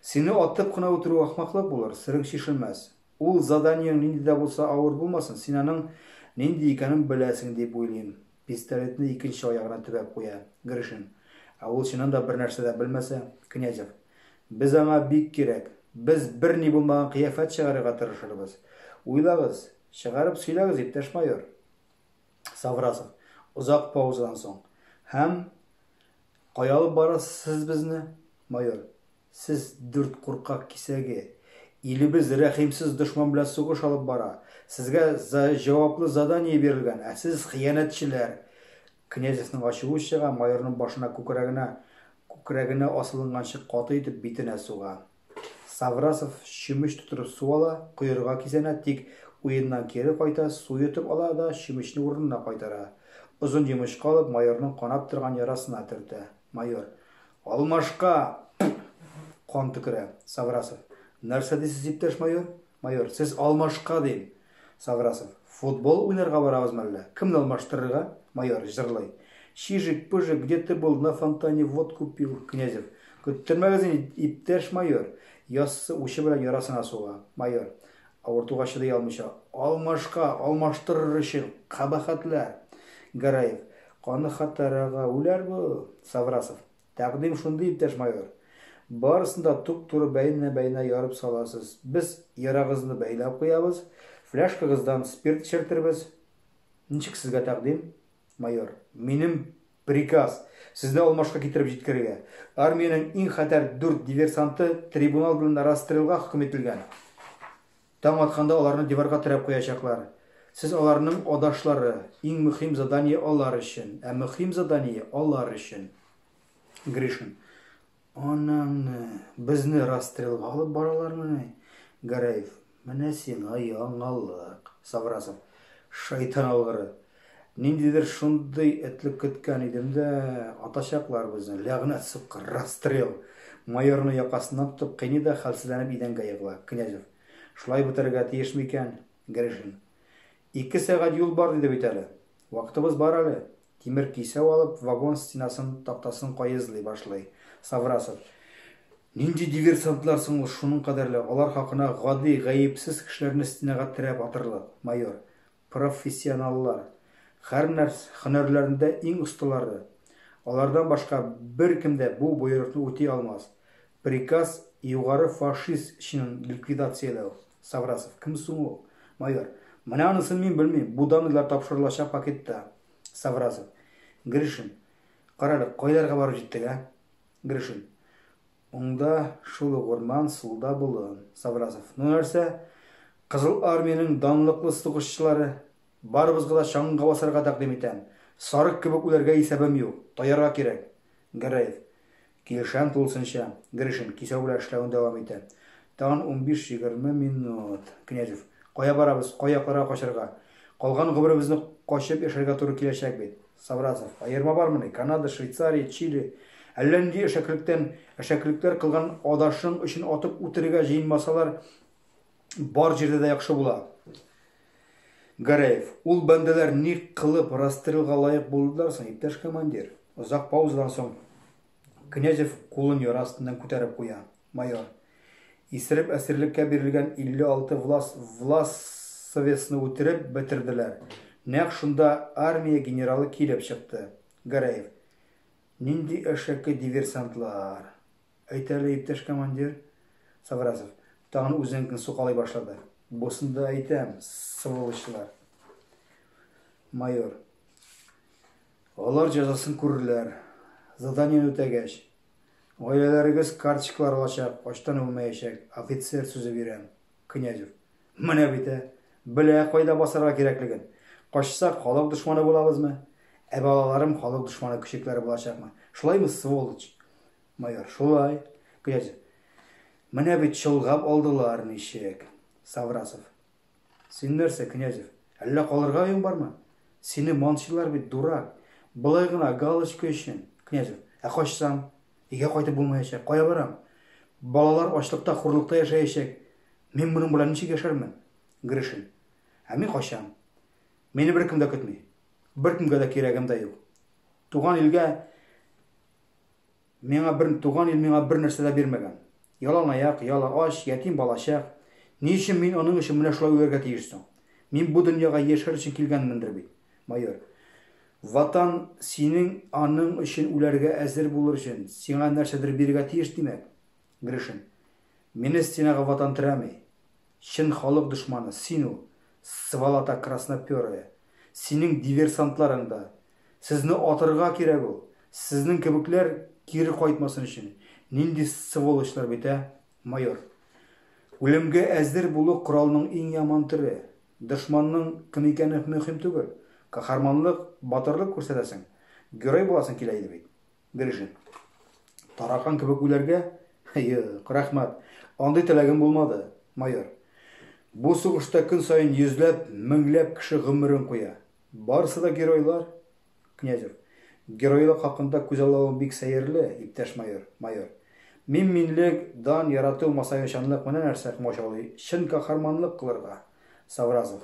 Сине атып кына үтерү ахмаклык булыр, серең чишелмәс. Ул заданиең нинди дә булса авыр булмасын, син аның нинди икәнен беләсең дип уйлыйм. Пистолетны икенче аягына төбәп куя Гришин. Ә ул чыннан да бернәрсә дә белмәсә, Князев. Без аңа бик кирәк. Без берни булмаган кыяфәт чыгарырга тырышырбыз. Уйлагыз, чыгарып сөйләгез, иптәш майор. Саврасов, озак паузадан соң. Һәм. Кая алып барасыз сез безне, майор? Сез дүрт куркак кисәге. Илебез рәхимсез дошман белән сугыш алып бара. Сезгә за җаваплы задание бирелгән, ә сез хыянәтчеләр! Князевның ачуы чыга, майорның башына күкрәгенә күкрәгенә асылынганчы каты итеп битенә суга. Саврасов чүмеч тутырып су ала, коерга кисәнә, тик уеннан кире кайта, су йотып ала да чүмечне урынына кайтара. Озын йомычка алып, майорның канап торган ярасына төртә. Майор. Алмашка! Пф! Кан төкерә. Саврасов. Нәрсә дисез, иптәш майор? Майор. Сез алмашка, дим. Саврасов. Футбол уйнарга барабыз мәллә? Кемне алмаштырырга? Майор, җырлый. Чижик, пыжик, где ты был, на фонтане водку пил. Князев. Көттермәгез инде, иптәш майор. Яссы учы белән ярасына суга. Майор. Авыртуга чыдый алмыйча, алмашка алмаштырыр өчен кабахәтлә! Гәрәев. Каныхатарага үләр бу! Саврасов. Тәкъдим шундый, иптәш майор. Барысын да туп-туры бәйнә-бәйнә ярып саласыз. Без ярагызны бәйләп куябыз, фляшкагыздан спирт эчертербез. Ничек сезгә тәкъдим, майор? Минем Приказ, сезне алмашка китереп җиткерергә. Армиянең иң хәтәр дүрт диверсанты трибунал белән расстрелга хөкем ителгән. Таң атканда аларны диварга терәп куячаклар. Сез аларның адашлары. Иң мөхим задание алар өчен. Ә мөхим задание алар өчен. Гришин. Анаңны, безне расстрелга алып баралармыни? Гәрәев, менә сиңа яңалык. Саврасов, шайтан алгыры. Ниндидер шундый этлек көткән идем дә, атачаклар безне, ләгънәт сукка, расстрел. Майорны якасыннан тотып кыйный да хәлсезләнеп идәнгә егыла. Князев, шулай бетерергә тиеш микән? Гришин, Ике сәгать юл бар, диде бит әле. Вакытыбыз бар әле. Тимер кисәү алып, вагон стенасын, тактасын каезлый башлый Саврасов. Нинди диверсантлар соң ул шуның кадәрле, алар хакына гади, гаепсез кешеләрне стенага терәп атырлык, майор. Профессионаллар. Хәрнәрс һөнәрләрендә иң осталары. Алардан башка беркем дә бу боерыкны үти алмас. Приказ, югары фашист чинын ликвидацияләү. Саврасов, кем соң ул? Майор, менә анысын мин белмим, бу данныйлар тапшырылачак пакетта. Саврасов, Гришин, карале, кайларга барып җиттек, ә? Гришин, уңда шул ук урман, сулда болын. Саврасов, ну нәрсә, Кызыл Армиянең данлыклы сугышчылары, барыбызга да чаңга басарга тәкъдим итәм, сарык кебек үләргә исәбем юк, таярга кирәк. Гәрәев, Килешәм тулысынча. Гришин, кисәүгеләр эшләвен дәвам итә. Тагын унбиш-егерме минут. Князев. Кая барабыз, кай якларга качарга? Калган гомеребезне качып яшәргә туры киләчәк бит. Саврасов. Аерма бармыни? Канада, Швейцария, Чили. Әллә нинди әшәкелектән әшәкелекләр кылган адашың өчен атып үтерергә җыенмасалар, Бар җирдә дә яхшы була. Гарәев, ул бәндәләр ни кылып расстрелга лаек булдылар соң, иптәш командир? Озак паузадан соң Князев кулын яра астыннан күтәреп куя. Майор. Исереп әсирлеккә бирелгән 56 влас, влас совесны үтереп бетерделәр. Нәкъ шунда армия генералы килеп чыкты. Гарәев. Нинди әшәке диверсантлар. Әйт әле, иптәш командир. Саврасов, тагын үзенекен сукалый башлады. Бусын да әйтәм, сволочьлар. Майор. Алар җәзасын күрерләр. Заданиене үтәгәч, гаиләләрегез карточкалар алачак, ачтан үлмәячәк, офицер сүзе бирәм. Князев. Менә бит, ә! Белә кайда басарга кирәклеген. Качсак, халык дошманы булабызмы? Ә балаларым халык дошманы көчекләре булачакмы? Шулаймы, сволочь? Майор, шулай. Князь, менә бит чолгап алдылар, ничек? Саврасов. Син нәрсә, Князев, әллә калырга өең бармы? Сине манчылар бит, дурак. Былай гына галочка өчен. Князев, ә качсам? Өйгә кайтып булмаячак. Кая барам? Балалар ачлыкта, хурлыкта яшәячәк. Мин моның белән ничек яшәрмен? Гришин. Ә мин качам. Мине беркем дә көтми. Беркемгә дә кирәгем дә юк. Туган илгә Миңа бер, туган ил миңа бер нәрсә дә бирмәгән. Яланаяк, ялы ач, ятим балачак. Ни өчен мин аның өчен менә шулай үләргә тиеш соң? Мин бу дөньяга яшәр өчен килгәнмендер бит. Майор. Ватан синең аның өчен үләргә әзер булыр өчен, сиңа нәрсәдер бирергә тиеш, димәк. Гришин. Мине стенага ватан терәми. Чын халык дошманы, син ул, сволота красноперая. Синең диверсантларың да. Сезне атырга кирәк ул. Сезнең кебекләр кире кайтмасын өчен. Нинди сволочлар бит, ә? Майор. Үлемгә әзер булу коралның иң яман төре. Дошманның кем икәне мөһим түгел. Каһарманлык, батырлык күрсәтәсең, герой буласың килә иде бит. Берише. Таракан кебек үләргә? Юк, рәхмәт. Андый теләгем булмады, майор. Бу сугышта көн саен йөзләп, меңләп кеше гомерен куя. Барысы да геройлар. Князев. Геройлык хакында күз аллавың бик сәерле, иптәш майор, майор. Мин минлек, дан, ярату, масаячанлык менә нәрсә комачаулый чын каһарманлык кылырга. Савразов.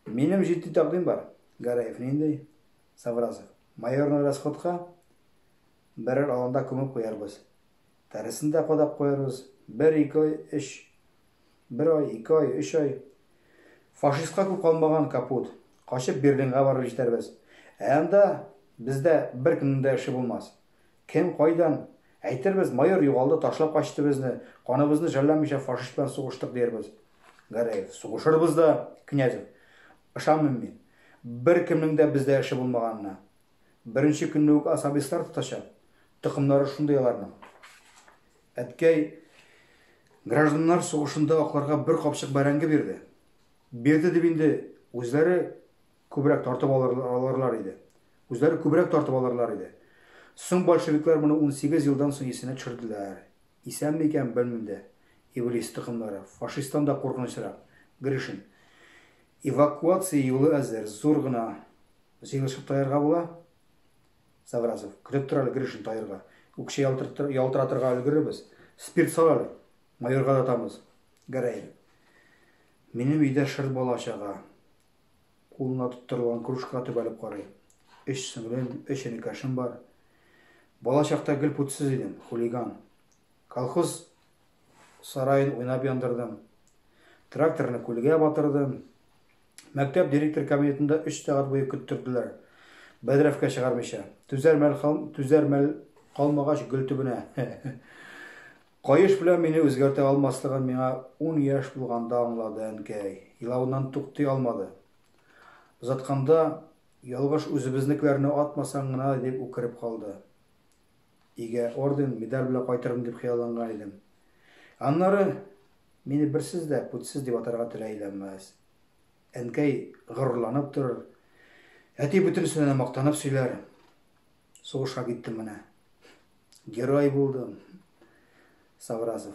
Минем җитди тәкъдим бар. Гараев. Нинди? Савразов. Майорны расходка берәр аланда күмеп куярбыз. Тәресен дә кадап куярбыз. Бер-ике ай, өч. Бер ай, ике ай, өч ай. Фашистка күп калмаган, капут. Качып Берлинга барып җитәрбез. Ә анда бездә беркемнең дә эше булмас. Кем, кайдан? Әйтербез, майор югалды, ташлап качты безне, каныбызны жәлләмичә фашист белән сугыштык, диярбез. Гәрәев. Сугышырбыз да, Князев. Ышанмыйм мин. Беркемнең дә бездә эше булмаганына. Беренче көнне үк особистлар тотачак. Токымнары шундый аларның. Әткәй гражданнар сугышында акларга бер капчык бәрәңге бирде. Бирде дип инде үзләре күбрәк тартып алырлар иде. Үзләре күбрәк тартып алырлар иде. Соң большевиклар моны унсигез елдан соң исенә төшерделәр. Исәнме икән, белмим дә. Иблис токымнары, фашисттан да куркынычрак. Гришин. Эвакуация юлы әзер, зур гына җыелышып таярга була. Саврасов. Көтеп тор әле, Гришин, таярга. Үкчә ялтыратырга өлгерербез. Спирт сал әле. Майорга да атамыз. Гәрәев. Минем өйдә шыр бала-чага. Кулына тоттырылган кружка төбәлеп карый. Өч сеңлем, өч энекәшем бар. Бала чакта гел күтсез идем, хулиган. Колхоз сараен уйнап яндырдым. Тракторны күлгә батырдым. Мәктәп директор кабинетында өч сәгать буе көттерделәр. Бәдрәфкә чыгармыйча. Түзәр мәл, түзәр мәл калмагач, гөл төбенә. Каеш белән мине үзгәртә алмаслыгын миңа ун яшь булганда аңлады әнкәй. Елавыннан туктый алмады. Озатканда, Ялгыш үзебезнекеләрне атмасаң гына, дип үкереп калды. Өйгә орден, медаль белән кайтырмын дип хыялланган идем. Аннары, Мине берсез дә путьсез дип атарга теләйләмәс. Әнкәй горурланып торыр. Әти бөтенесенә дә мактанып сөйләр. Сугышка киттем менә. Герой булдым. Савразов.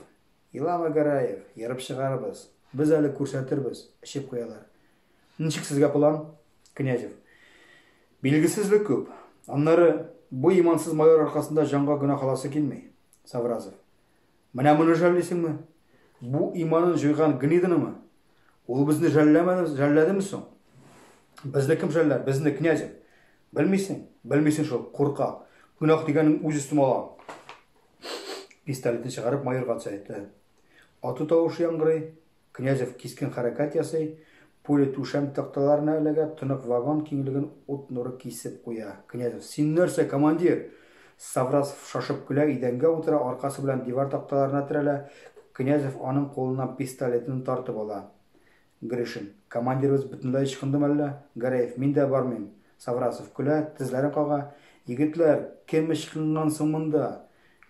Илама Гараев, ерып чыгарбыз. Без әле күрсәтербез, эчеп куялар. Ничек сезгә план? Князев. Билгесезлек күп. Аннары бу имансыз майор аркасында җанга гына халасы килми. Савразов. Менә моны жәллисеңме? Бу иманын җуйган гнидынымы? Ул безне жәлләмәде, жәлләдеме соң? Безне кем жәлләр? Безне князев. Белмисең? Белмисең шул, курка. Гөнаһ дигәнең үз өстем ала. Пистолетны чыгарып майорга төсәйтте. Ату тавышы яңгырый, Князев кискен хәрәкәт ясый, пуля түшәм такталарына эләгә, тонык вагон киңлеген ут нуры кисеп куя. Князев, Син нәрсә, командир! Саврасов шашып көлә, идәнгә утыра, аркасы белән дивар такталарына терәлә. Князев аның кулыннан пистолетын тартып ала. Гришин, Командирыбыз бөтенләй ычкындымы әллә? Гәрәев, Мин дә бармыйм. Саврасов көлә, тезләрен кага, Егетләр, кем ычкынган соң монда?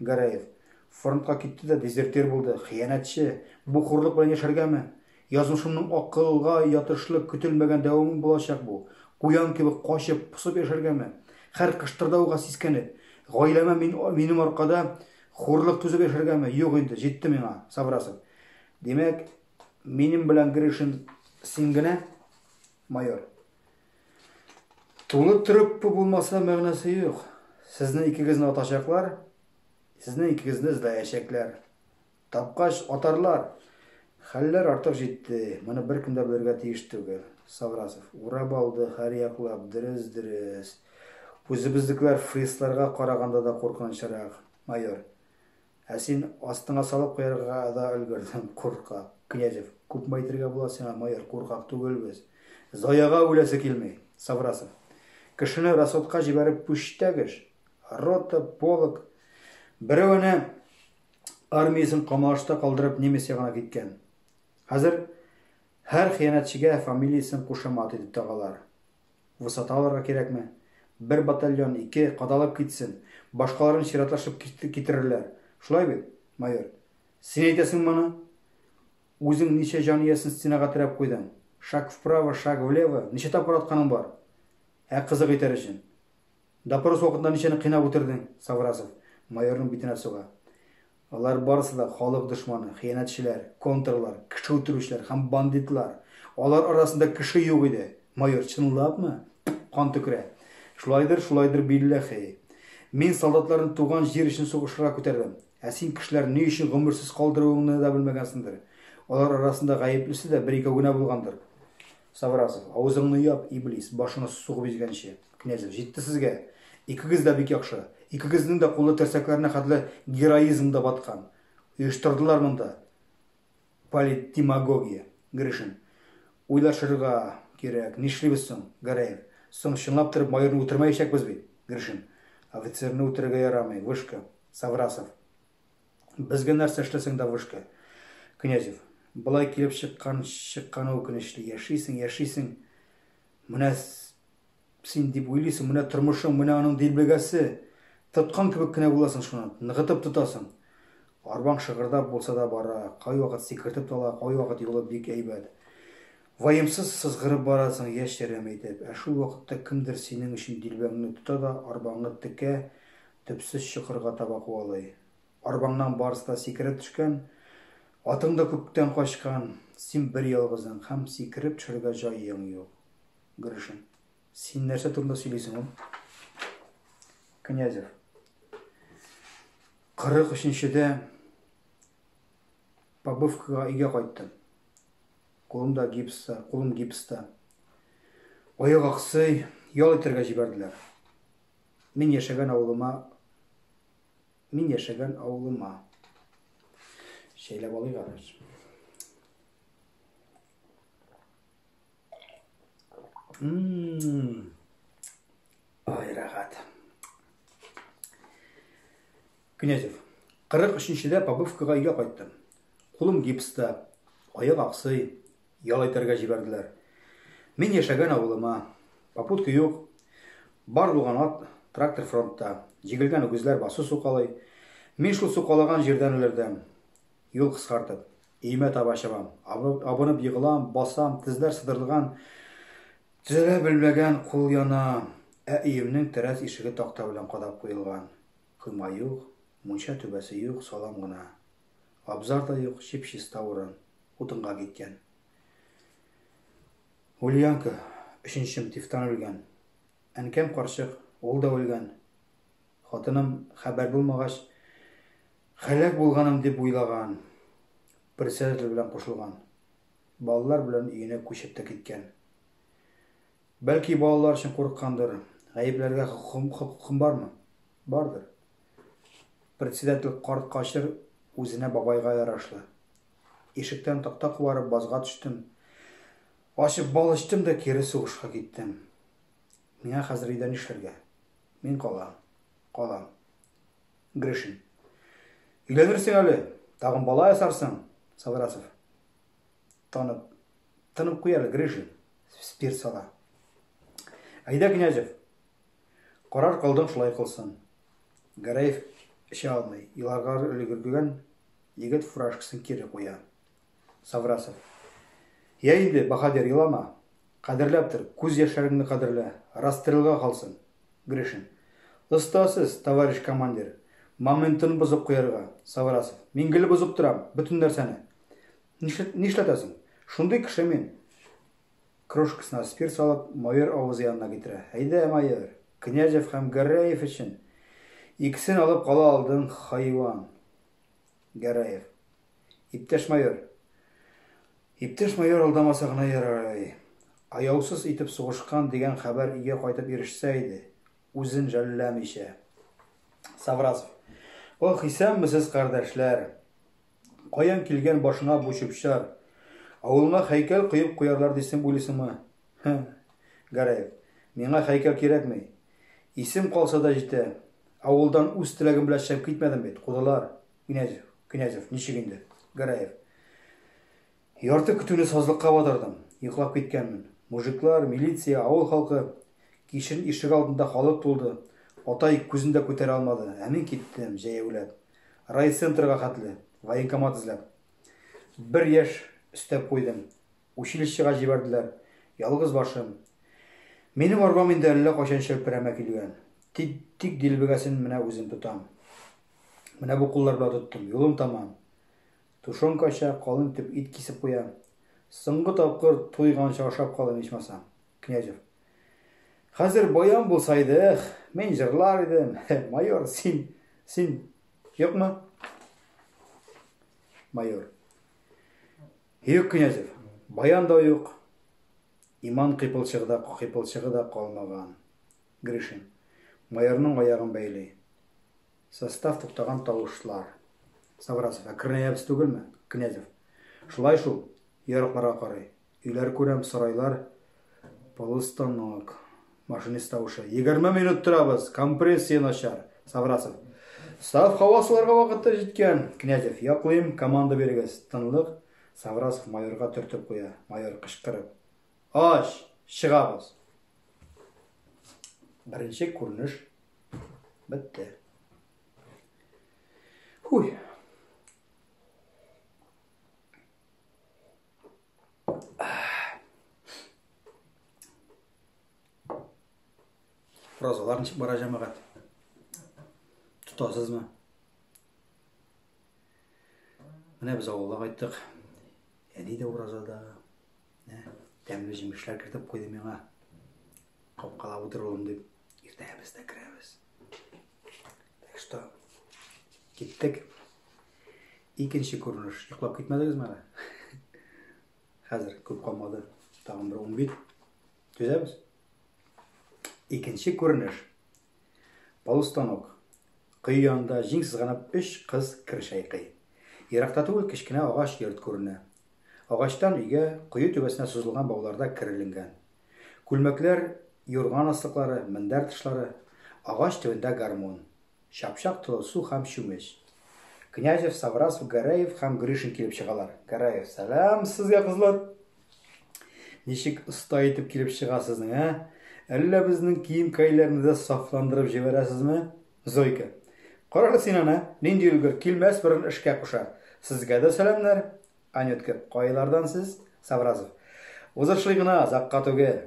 Гәрәев. Фронтка китте дә дезертир булды, хыянәтче! Бу хурлык белән яшәргәме? Язмышымның акылга ятышлы көтелмәгән дәвамы булачак бу. Куян кебек качып, посып яшәргәме? Хәр кыштырдауга сискәнеп. Гаиләмә мин, минем аркада хурлык түзеп яшәргәме? Юк инде, җитте миңа, Саврасов. Димәк, минем белән Гришин син генә, майор? Тулы труппа булмаса мәгънәсе юк. Сезне икегезне атачаклар, сезне икегезне эзләячәкләр. Тапкач атарлар. Хәлләр артык җитте. Моны беркем дә белергә тиеш түгел. Саврасов урап алды һәрьяклап, дөрес, дөрес. Үзебезнекеләр фрисларга караганда да куркынычрак, майор. Ә син астыңа салып куярга да өлгердең, куркак. Князев, Күпме әйтергә була сиңа, майор, куркак түгел без. Зояга үләсе килми. Саврасов, Кешене расотка җибәреп пүчтәгеш. Рота, полк. Берәвене армиясен камалашта калдырып немец ягына киткән. Хәзер һәр хыянәтчегә фамилиясен кушамат итеп тагалар. Высота алырга кирәкме? Бер батальон, ике, кадалып китсен. Башкаларын чиратлашып китерерләр. Шулай бит, майор? Син әйтәсең моны? Үзең ничә җан иясен стенага терәп куйдың? Шаг вправо, шаг влево, ничә тапкыр атканың бар? Ә кызык итәр өчен. Допрос вакытында ничәне кыйнап үтердең? Саврасов майорның битенә суга. Алар барысы да халык дошманы, хыянәтчеләр, контрлар, кеше үтерүчеләр һәм бандитлар. Алар арасында кеше юк иде. Майор, чынлапмы? Пф, кан төкерә. Шулайдыр, шулайдыр, билләхи. Мин солдатларны туган җир өчен сугышырга күтәрдем. Ә син кешеләрне ни өчен гомерсез калдыруыңны да белмәгәнсеңдер. Алар арасында гаеплесе дә бер-икәү генә булгандыр. Саврасов, авызыңны яп, иблис, башыңа сугып изгәнче. Князев, җитте сезгә! Икегез дә бик яхшы. Икегезнең дә кулы терсәкләренә хәтле героизмда баткан. Оештырдылар монда политдемагогия. Гришин, уйлашырга кирәк, нишлибез соң? Гәрәев, соң чынлап торып майорны үтермәячәкбез бит? Гришин, офицерны үтерергә ярамый, вышка. Саврасов, Безгә нәрсә эшләсәң дә вышка. Князев. Болай килеп чыккан, чыкканы үкенечле. Яшисең, яшисең. Менә син дип уйлыйсың, менә тормышың, менә аның дилбегәсе. Тоткан кебек кенә буласың шуны, ныгытып тотасың. Арбаң шыгырдап булса да бара, кайвакыт сикертеп тала, кайвакыт юлы бик әйбәт. Ваемсыз сызгырып барасың, яшь-ярым итеп, ә шул вакытта кемдер синең өчен дилбәңне тота да арбаңны текә, төпсез чокырга таба куалый. Арбаңнан барысы да сикерә төшкән, атың да күптән качкан, син берьялгызың һәм сикереп төшәргә җаең юк. Гришин. Син нәрсә турында сөйлисең ул? Князев. Кырык өченчедә побывкага өйгә кайттым. Кулым да гипста, кулым гипста. Аяк аксый, ял итәргә җибәрделәр. Мин яшәгән авылыма Мин яшәгән авылыма. Шәйләп алыйк аны. Ммм. Ай, рәхәт. Князев. Кырык өченчедә Побывкага өйгә кайттым. Кулым гипста, аяк аксый, ял итәргә җибәрделәр. Мин яшәгән авылыма, попутка юк, бар булган ат, трактор фронтта, җигелгән үгезләр басу сукалый. Мин шул сукалаган җирдән өлердәм. Юл кыскартып, өемә таба чабам. Абынып егылам, басам, тезләр сыдырылган, төзәлә белмәгән, кул яна. Ә өемнең тәрәз ишеге такта белән кадап куелган. Койма юк, мунча түбәсе юк, салам гына. Абзар да юк, чип-чиста урын, утынга киткән. Ульянка, өченчем, тифтан үлгән. Әнкәм карчык, ул да үлгән. Хатыным, хәбәр булмагач, һәлак булганым дип уйлаган, председатель белән кушылган. Балалар белән өенә күчеп тә киткән. Бәлки балалар өчен курыккандыр. Гаепләргә хокукым, хокукым бармы? Бардыр. Председатель карт качыр үзенә бабайга ярашлы. Ишектән такта кубарып базга төштем. Ачып бал эчтем дә кире сугышка киттем. Миңа хәзер өйдә нишләргә? Мин калам. Калам. Гришин. Өйләнерсең әле. Тагын бала ясарсың, Саврасов. Танып, тынып куй әле, Грыжин, спирт сала. Әйдә, Князев, карар кылдың, шулай кылсын. Гәрәев эчә алмый, еларга өлгергән егет фуражкасын кире куя. Саврасов. Я инде, баһадир, елама. Кадерләп тор, күз яшьләреңне кадерлә, расстрелга калсын. Гришин. Оста сез, товарищ командир. Моментын бозып куярга. Саврасов. Мин гел бозып торам, бөтен нәрсәне. Нишләтәсең? Шундый кеше мин. Крошкасына спирт салып, майор авызы янына китерә. Әйдә, майор, Князев һәм Гәрәев өчен икесен алып кала алдың, хайван. Гәрәев. Иптәш майор. Иптәш майор алдамаса гына ярый. Аяусыз итеп сугышкан дигән хәбәр өйгә кайтып ирешсә иде, үзен жәлләмичә. Саврасов. Ох, исәнмесез, кардәшләр! Каян килгән башыңа бу чүп-чар? Авылыңа хәйкәл коеп куярлар дисең уйлыйсыңмы? Һе. Гәрәев. Миңа хәйкәл кирәкми. Исем калса да җитә. Авылдан үз теләгем белән чыгып китмәдем бит, кудылар. Князев. Князев. Ничек инде? Гәрәев. Ярты көтүне сазлыкка батырдым, йоклап киткәнмен. Мужиклар, милиция, авыл халкы. Кичен ишек алдында халык тулды. Атай күзен дә күтәрә алмады, ә мин киттем, җәяүләп. Райцентрга хәтле, военкомат эзләп. Бер яшь өстәп куйдым. Училищега җибәрделәр. Ялгыз башым. Минем арбам инде әллә кайчан чәлперәмә килгән. Тик, тик дилбегәсен менә үзем тотам. Менә бу куллар белән тоттым. Юлым таман. Тушенкача калын итеп ит кисеп куя. Соңгы тапкыр туйганчы ашап калыйм, ичмасам. Князев. Хәзер баян булса иде, эх, мин җырлар идем. Майор, син, син юкмы? Майор. Юк, Князев, баян да юк, иман кыйпылчыгы да, кыйпылчыгы да калмаган. Гришин. Майорның аягын бәйли. Состав туктаган тавышлар. Саврасов, ә Крнеябез түгелме? Князев, шулай шул, йорыкларга карый. Өйләр күрәм, сарайлар, полустанок. Машинист тавышы. Егерме минут торабыз, компрессия начар. Саврасов. Саф һава суларга вакыты җиткән. Князев, яклыйм, команда бирегез. Тынлык. Саврасов майорга төртеп куя. Майор, кычкырып. Ач, чыгабыз. Беренче күренеш бетте. Хуй. Фразалар ничек бара җәмәгать? Тотасызмы? Менә без авылга кайттык. Әни дә уразада, Менә тәмле җимешләр кертеп куйды миңа. Капкала утырылым дип, иртәгә без дә керәбез. Так что, киттек. Икенче күренеш. Йоклап китмәдегезме әле? Хәзер күп калмады. Тагын бер 10 бит. Төзәбез. Икенче күренеш. Алыстан ук, кое янында җиң сызганып өч кыз кер чайкый. Еракта түгел кечкенә агач йорт күренә. Агачтан өйгә, кое түбәсенә сузылган бауларда кер эленгән. Күлмәкләр, юрган аслыклары, мендәр тышлары. Агач төбендә гармун. Чапчак толы су һәм чүмеч. Князев, Саврасов, Гәрәев һәм Гришин килеп чыгалар. Гәрәев, Сәлам, сезгә, кызлар! Ничек оста итеп килеп чыга сезнең, ә? Әллә безнең кием-кәйләрне дә сафландырып җибәрәсезме? Зойка. Карар син аны, нинди өлгер, килмәс борын эшкә куша. Сезгә дә сәламнәр. Анютка. Кайлардан сез? Савразов. Узышлый гына, озакка түгел.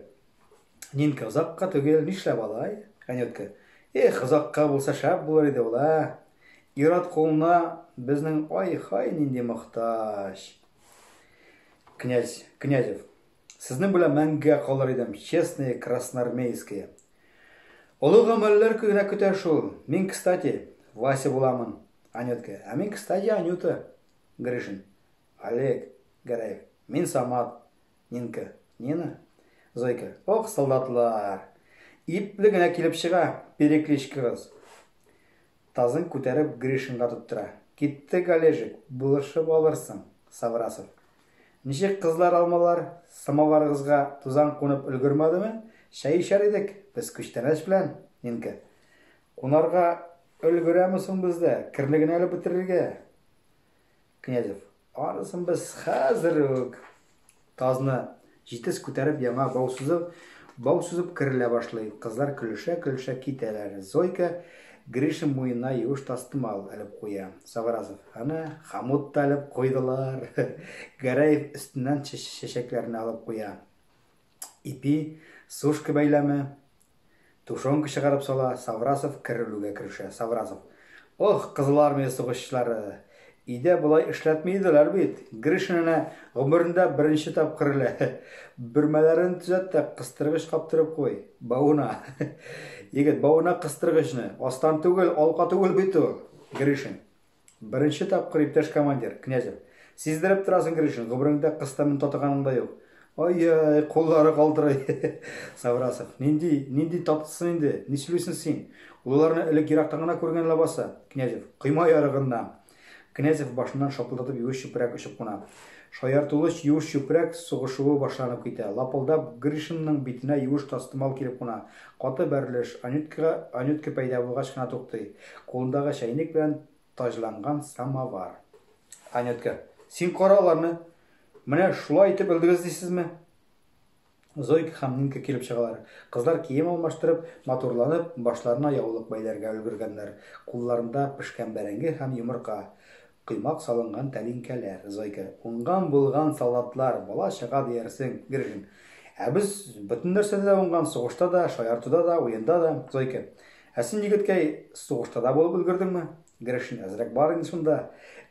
Нинка. Озакка түгел, нишләп алай? Анютка. Эх, озакка булса шәп булыр иде ул, ә? Ират кулына безнең ай-хай нинди мохтаҗ. Князь, Князев, сезнең белән мәңгегә калыр идем, честные красноармейские. Олы гамәлләр генә көтә шул. Мин, кстати, Вася буламын. Анютка, а мин, кстати, Анюта. Гришин, Олег, Гәрәев, мин Самат. Нинка, Нина. Зойка, ох, солдатлар. Ипле генә килеп чыга, перекличкагыз. Тазын күтәреп Гришинга тоттыра. Киттек, Олежек, булышып алырсың, Саврасов. Ничек кызлар алмалар? Самоварыгызга тузан кунып өлгермәдеме? Чәй эчәр идек, без күчтәнәч белән, Нинка. Кунарга өлгерәме соң бездә, керне генә әле бетерергә. Князев. Анысын без хәзер үк! Тазны җитез күтәреп яңа бау сузып, бау сузып керелә башлый. Кызлар көлешә-көлешә китәләр. Зойка Гришин муенына юеш тастымал элеп куя. Саврасов. Әнә, хомут та элеп куйдылар. Гәрәев өстеннән чәчәкләрне алып куя. Ипи, сушка бәйләме, Тушенка чыгарып сала, Саврасов кер өрергә керешә. Саврасов. Ох, Кызыл Армия сугышчылары! Өйдә болай эшләтми иделәр бит. Гришин әнә гомерендә беренче тапкыр элә. Бөрмәләрен төзәт тә, кыстыргыч каптырып куй. Бавына. Егет, бавына кыстыргычны. Астан түгел, алка түгел бит ул. Гришин. Беренче тапкыр, иптәш командир, Князев. Сиздереп торасың, Гришин, гомереңдә кыз тәмен татыганың да юк. Ай-яй, куллары калтырый. Саврасов. Нинди, нинди татысын инде, ни сөйлисең син? Ул аларны элек ерактан гына күргән лабаса. Князев. Койма ярыгыннан. Князев башыннан шапылдатып юеш чүпрәк очып куна. Шаяртулыч юеш чүпрәк сугышуы башланып китә. Лапылдап Гришинның битенә юеш тастымал килеп куна. Каты бәрелеш Анюткага Анютка пәйда булгач кына туктый. Кулындагы чәйнек белән таҗланган самовар. Анютка. Син кара аларны! Менә шулай итеп өлдегез дисезме? Зойка һәм Нинка килеп чыгалар. Кызлар кием алмаштырып, матурланып, башларына яулык бәйләргә өлгергәннәр. Кулларында пешкән бәрәңге һәм йомырка. Коймак салынган тәлинкәләр, зойка, уңган-булган салатлар, бала-чага диярсең, гргн. Ә без бөтен нәрсәдә дә уңган, сугышта да, шаяртуда да, уенда да, зойка. Ә син, егеткәй, сугышта да булып өлгердеңме? Гршн. Әзрәк бар инде шунда.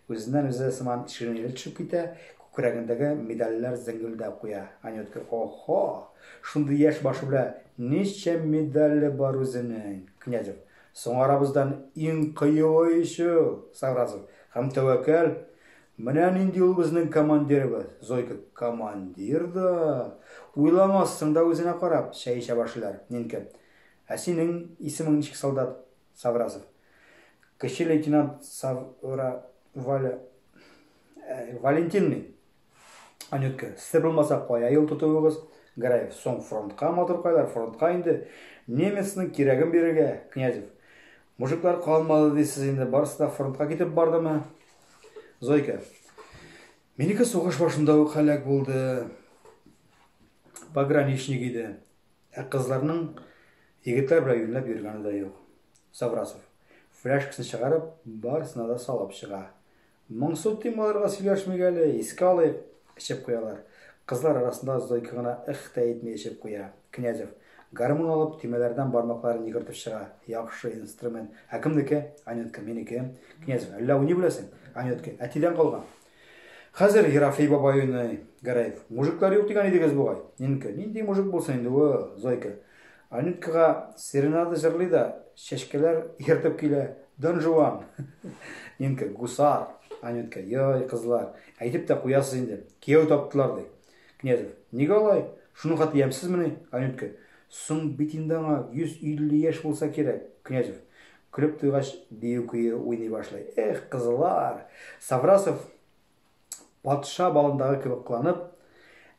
Үзеннән-үзе сыман ширинәле төшеп китә, күкрәгендәге медальләр зеңгелдәп куя. Анютка, О-һо! Шундый яшь башы белә ничә медале бар үзенең! Князев. Соң арабыздан иң кыюы ише ул, Сагразов, һәм тәвәкәл. Менә нинди ул безнең командирыбыз. Зойка, командир да! Уйламассың да үзенә карап, чәй эчә башлыйлар. Нинка, ә синең исемең ничек, солдат? Сагразов. Кече лейтенант Савра Валя... Валентин мин. Анютка, сез булмаса кая юл тотуыгыз? Граев, соң фронтка матуркайлар, фронтка инде. Немецның кирәген бирергә, Князев. Мужиклар калмады дисез инде, барысы да фронтка китеп бардымы? Зойка. Минеке сугыш башында ук һәлак булды. Пограничник иде. Ә кызларның егетләр белән юнләп йөргәне дә юк. Саврасов. Фляшкасын чыгарып, барысына да салып чыга. Моңсу тим аларга сөйләшмик әле, искә алыйк, эчеп куялар. Кызлар арасында Зойка гына эх тә әйтми эчеп куя. Князев, гармун алып, төймәләрдән бармакларын йөгертеп чыга. Яхшы инструмент. Ә кемнеке? Анютка, минеке. Князев, әллә уйный беләсең? Анютка, әтидән калган. Хәзер Ерофей бабай уйный. Гәрәев, мужиклар юк дигән идегез бугай. Нинке, нинди мужик булсын инде ул, Зойка. Аниткага серенада җырлый да, чәчкәләр ияртеп килә, Дон Жуан! Нинка, Гусар! Анютка, Йой, кызлар, әйтеп тә куясыз инде, кияү таптылар, ди. Князев, Нигә алай? Шуның хәтле ямьсезмени? Анютка, Соң бит инде аңа 150 яшь булса кирәк. Князев, көлеп туйгач, бию-көе уйный башлый. Эх, кызлар! Саврасов, Патша балындагы кебек кыланып,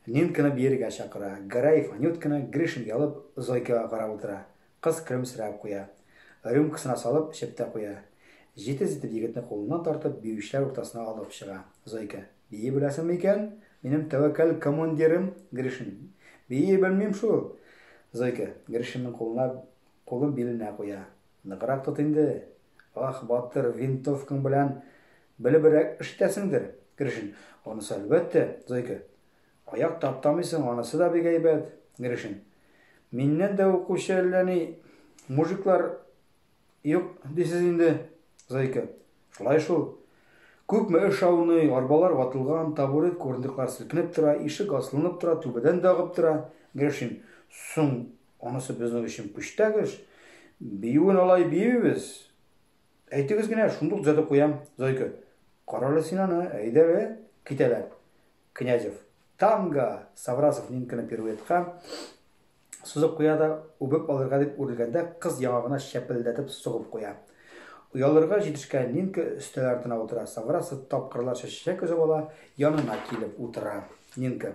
Нинканы биергә чакыра. Гараев Анютканы, Гришин ялып, Зойкага карап утыра. Кыз көлемсерәп куя. Рюмкасына салып, эчеп тә куя. Җитез итеп егетне кулыннан тартып, биючеләр уртасына алып чыга. Зойка. Бии беләсеңме икән, минем тәвәккәл командирым? Гришин. Бии белмим шул. Зойка. Гришинның кулына кулын биленә куя. Ныграк тот инде. Ах, батыр, винтовкаң белән белебрәк эштәсеңдер, Гришин. Анысы әлбәттә, Зойка. Аяк таптамыйсың, анысы да бик әйбәт, Гришин. Миннән дә укучы әллә ни мужиклар юк дисез инде, Зойка. Шулай шул. Күпме эш ауный, арбалар ватылган, табурет курындыклар селкенеп тора, ишек аслынып тора, түбәдән дә агып тора, Гришин. Соң Анысы безнең өчен пүчтәк эш. Биюен алай биюбез. Әйтегез генә, шундук төзәтеп куям. Зойка. Карале син аны, әйдәле. Китәләр. Князев. Танго! Саврасов Нинканы пируэтка сузып куя да, үбеп алырга дип үрелгәндә, кыз яңагына чәпелдәтеп сугып куя. Оялырга җитешкән Нинка өстәл артына утыра. Саврасов тапкырларча чәчәк өзеп ала, янына килеп утыра. Нинка.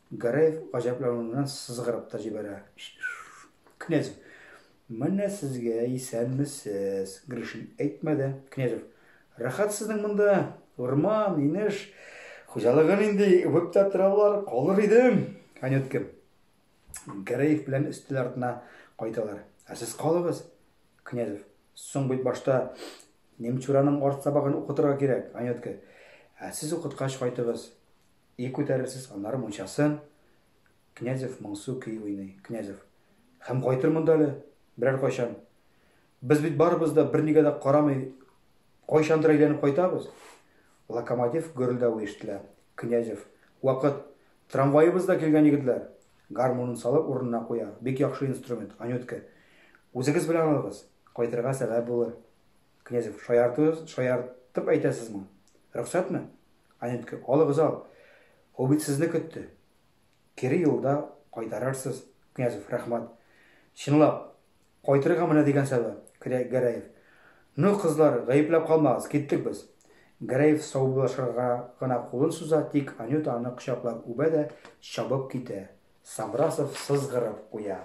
Гараев гаҗәпләнүеннән сызгырып та җибәрә. Князев. Менә сезгә исәнмесез. Гришин әйтмәде. Князев. Рәхәт сезнең монда. Урман, инеш. Хуҗалыгы нинди? Үбеп тә торалар. Калыр идем. Анютка. Гараев белән өстәл артына кайталар. Ә сез калыгыз. Князев. Соң бит башта Немчураның арт сабагын укытырга кирәк, Анютка. Ә сез укыткач кайтыгыз. Ий күтәрерсез, аннары мунчасын. Князев моңсу көй уйный. Князев. Һәм кайтырмын да әле, берәр кайчан. Без бит барыбыз да бернигә дә карамый кайчандыр әйләнеп кайтабыз. Локомотив гөрелдәве ишетелә. Князев. Вакыт. Трамваебыз да килгән, егетләр. Гармунын салып урынына куя. Бик яхшы инструмент, Анютка. Үзегез белән алыгыз. Кайтырга сәбәп булыр. Князев, шаяртыгыз, шаяртып әйтәсезме? Рөхсәтме? Анютка, алыгыз ал. Ул бит сезне көтте. Кире юлда кайтарырсыз. Князев, рәхмәт. Чынлап, кайтырга менә дигән сәбәп. Гәрәев, ну, кызлар, гаепләп калмагыз, киттек без. Гәрәев саубуллашырга гына кулын суза, тик Анюта аны кочаклап үбә дә чабып китә. Саврасов сызгырып куя.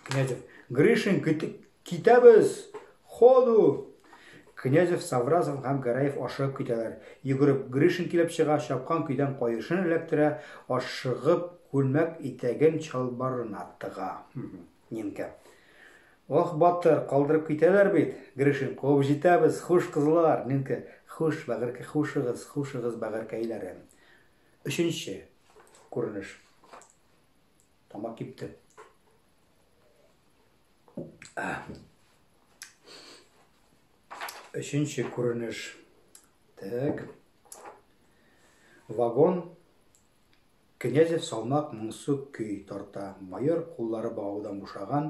Князев. Гришин, китәбез! Ходу! Князев, Савразов һәм Гараев ашыгып китәләр. Йөгереп Гришин килеп чыга, чапкан көйдән каешын эләктерә, ашыгып күлмәк итәген чалбарына тыга. Нинкә. Ох, батыр, калдырып китәләр бит. Гришин, куып җитәбез, хуш кызлар. Нинкә, хуш, бәгыркә, хушыгыз, хушыгыз, бәгыркәйләрем. Өченче күренеш. Тамак кипте. Өченче күренеш. Так. Вагон Князев салмак моңсу көй тарта. Майор куллары багаудан бушаган,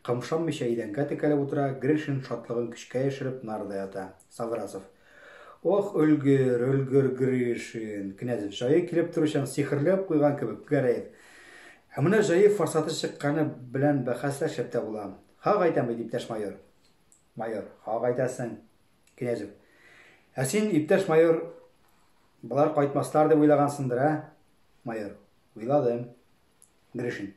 кымшанмыйча идәнгә текәлеп утыра, Гришин шатлыгын көчкә яшереп нарда ята. Саврасов. Ох, өлгер, өлгер, Гришин! Князев җае килеп торучан сихерләп куйган кебек Гәрәев. Ә менә җае форсаты чыкканы белән бәхәсләшеп тә була. Хак әйтәм бит, иптәш майор. Майор, хак әйтәсең. Князев. Ә син, иптәш майор, болар кайтмаслар дип уйлагансыңдыр, ә? Майор. Уйладым. Гришин.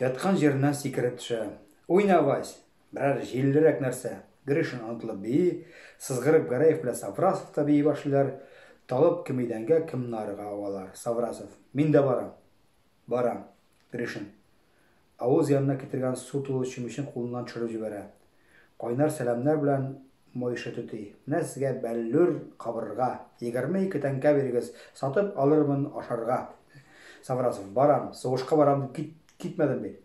Яткан җиреннән сикереп төшә. Уйна, Вась! Берәр җиллерәк нәрсә! Гришин онытылып бии, сызгырып Гәрәев белән Саврасов та бии башлыйлар. Талып кем идәнгә, кем нарга авалар. Саврасов. Мин дә барам! Барам. Гришин. Авыз янына китергән су тулы чүмечен кулыннан төшереп җибәрә. Кайнар сәламнәр белән Мойшы түти. Менә сезгә бәллүр кабырга. Егерме ике тәңкә бирегез, сатып алырмын ашарга. Саврасов, барам, сугышка барам дип кит, китмәдем бит.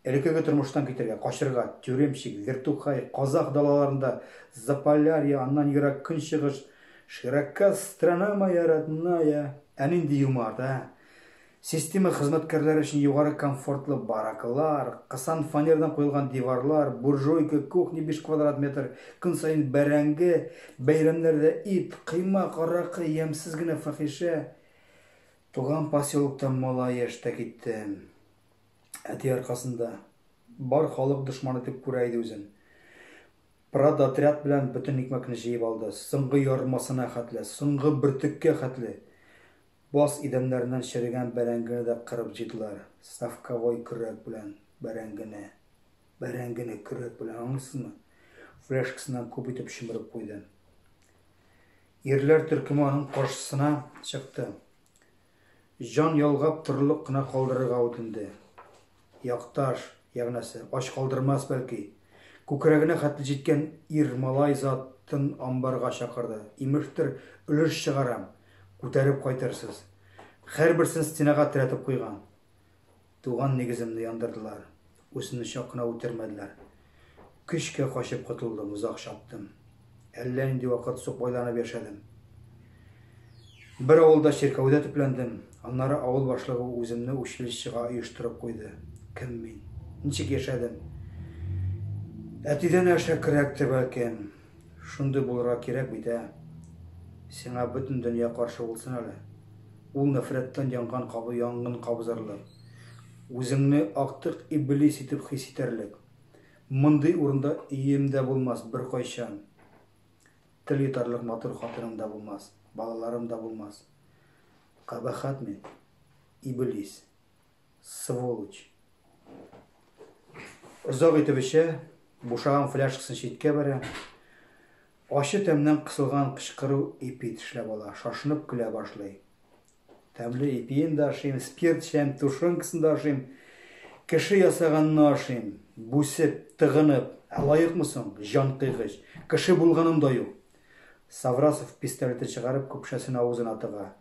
Элекеге тормыштан китәргә, качырга, Тюремщик, Вертухай, Казах далаларында, Заполярье, аннан ерак Көнчыгыш, Широка страна моя родная. Ә нинди юмарт, ә! Система хезмәткәрләре өчен югары комфортлы баракалар, кысан фанердан куелган диварлар, буржуйка, кухня биш квадрат метр, көн саен бәрәңге, бәйрәмнәрдә ит, коймак, аракы, ямьсез генә фәхишә. Туган поселоктан малай яшьтә киттем. Әти аркасында. Бар халык дошман итеп күрә иде үзен. Продотряд белән бөтен икмәкне җыеп алды. Соңгы ярмасына хәтле, соңгы бөртеккә хәтле. Баз идәннәреннән черегән бәрәңгене дә кырып җыйдылар, совковой көрәк белән бәрәңгене, бәрәңгене көрәк белән, аңлыйсызмы? фляжкасыннан күп итеп чөмереп куйды. Ирләр төркеме аның каршысына чыкты. Җан ялгап торырлык кына калдырырга үтенде. Якташ, ягънәсе, ач калдырмас бәлки. Күкрәгенә хәтле җиткән ир малай затын амбарга чакырды. Имештер, өлеш чыгарам, күтәреп кайтырсыз. Хәрберсен стенага терәтеп куйган. Туган нигеземне яндырдылар. Үземне чак кына үтермәделәр. Көчкә качып котылдым, озак чаптым. Әллә нинди вакыт сукбайланып яшәдем. Бер авылда чиркәүдә төпләндем. Аннары авыл башлыгы үземне училищега оештырып куйды. Кем мин? Ничек яшәдем? Әтидән әшәкерәктер, бәлкем. Шундый булырга кирәк бит, ә? Сиңа бөтен дөнья каршы булсын әле. Ул нәфрәттән янган кабы янгын кабызырлык. Үзеңне актык иблис итеп хис итәрлек. Мондый урында өем дә булмас беркайчан. Тел йотарлык матур хатыным да булмас, балаларым да булмас. Кабахәт мин. Иблис. Сволочь. Озак итеп эчә, бушаган фляжкасын читкә бәрә. Ачы тәмнән кысылган кычкыру ипи тешләп ала, шашынып көлә башлый. Тәмле ипиен дә ашыйм, спирт чәем, тушенкасын да ашыйм. Кеше ясаганны ашыйм, бүсеп, тыгынып. Ә лаекмы соң, җан кыйгыч? Кеше булганым да юк. Саврасов пистолеты чыгарып, көпшәсен авызына тыга.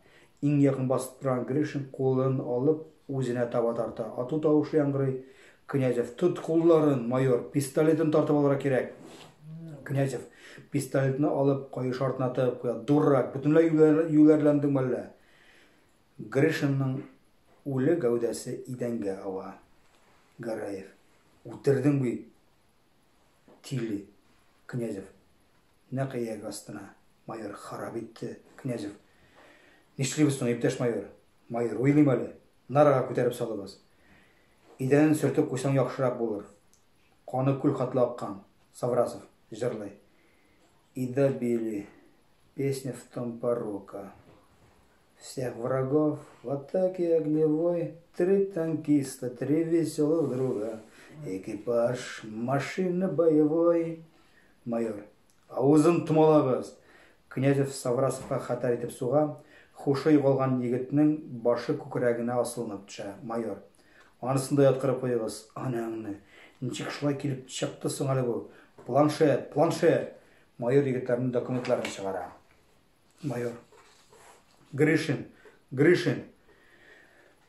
Иң якын басып торган Гришин кулын алып, Үзенә таба тарта. Ату тавышы яңгырый. Князев, Тот кулларын, майор, пистолетын тартып алырга кирәк! Князев, пистолетны алып, каеш артына тыгып куя. Дурак, бөтенләй юләрләндеңме әллә? Гришинның үле гәүдәсе идәнгә ава. Гәрәев, Үтердең бит, тиле! Князев, Нәкъ ияге астына. Майор, Харап итте, Князев. Нишлибез соң, иптәш майор? Майор, Уйлыйм әле. Нарага күтәреп салыгыз. Идәнен сөртеп куйсаң яхшырак булыр. Каны күл хатлы аккан. Саврасов, җырлый. И добили, песня в том порока. Всех врагов, вот так и огневой, Три танкиста, три веселых друга, Экипаж машины боевой. Майор. Авызын томалагыз! Князев Саврасовка хәтәр итеп суга, хушы югалган егетнең башы күкрәгенә асылынып төшә. Майор. Анысын да яткырып куегыз, анаңны. Ничек шулай килеп чыкты соң әле бу? Планшет, планшет! Майор егетләрнең документларын чыгара. Майор. Гришин, Гришин,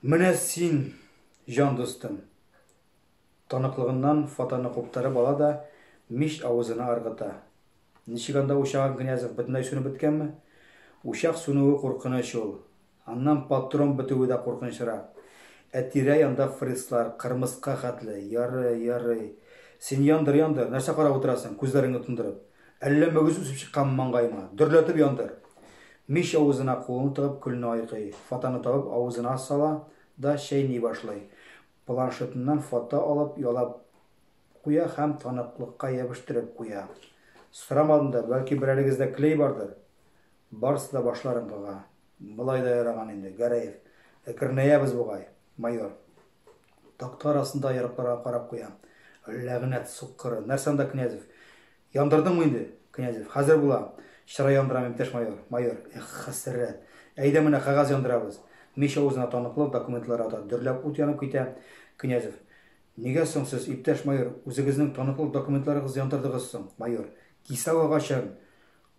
менә син, җан дустым. Таныклыгыннан фотоны куптарып ала да, мич авызына ыргыта. Ничек анда учагың, Князев, бөтенләй сүнеп беткәнме? Учак сүнүе куркыныч ул. Аннан патрон бетүе дә куркынычрак. Ә тирә-янда фрицлар, кырмыска хәтле. Ярый, ярый. Син яндыр, яндыр. Нәрсә карап утырасың, күзләреңне тондырып? Әллә мөгез үсеп чыкканмы маңгаеңа? Дөрләтеп яндыр! Мич авызына кулын тыгып, көлне айкый. Фотоны табып, авызына сала да чәйни башлый. Планшетыннан фото алып, ялап куя һәм таныклыкка ябештереп куя. Сорамадым да, бәлки берәрегездә клей бардыр? Барысы да башларын кага. Болай да яраган инде, Гәрәев. Әкренәябез бугай, майор. Такта арасында яракларга карап куя. Ләгънәт суккыры. Нәрсә анда Князев? Яндырдыңмы инде? Князев. Хәзер була. Чыра яндырам, иптәш майор. Майор. Эх, хәсрәт. Әйдә менә кәгазь яндырабыз. Мич авызына таныклы документлар ата. Дөрләп ут янып китә. Князев. Нигә соң сез, иптәш майор, үзегезнең таныклы документларыгыз яндырдыгыз соң, майор? Кисәү агачын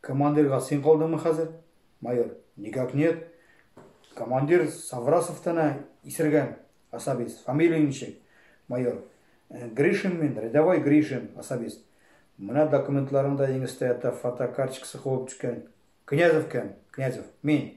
Командирга син калдыңмы хәзер? Майор, никак нет. Командир Саврасовтан ә исергән, особист. Фамилия ничек? Майор, «Э, Гришин мин, рядовой Гришин, особист. Менә документларымда еңестә ята фотокарточкасы куып төшкән. Князев кем? Князев, мин.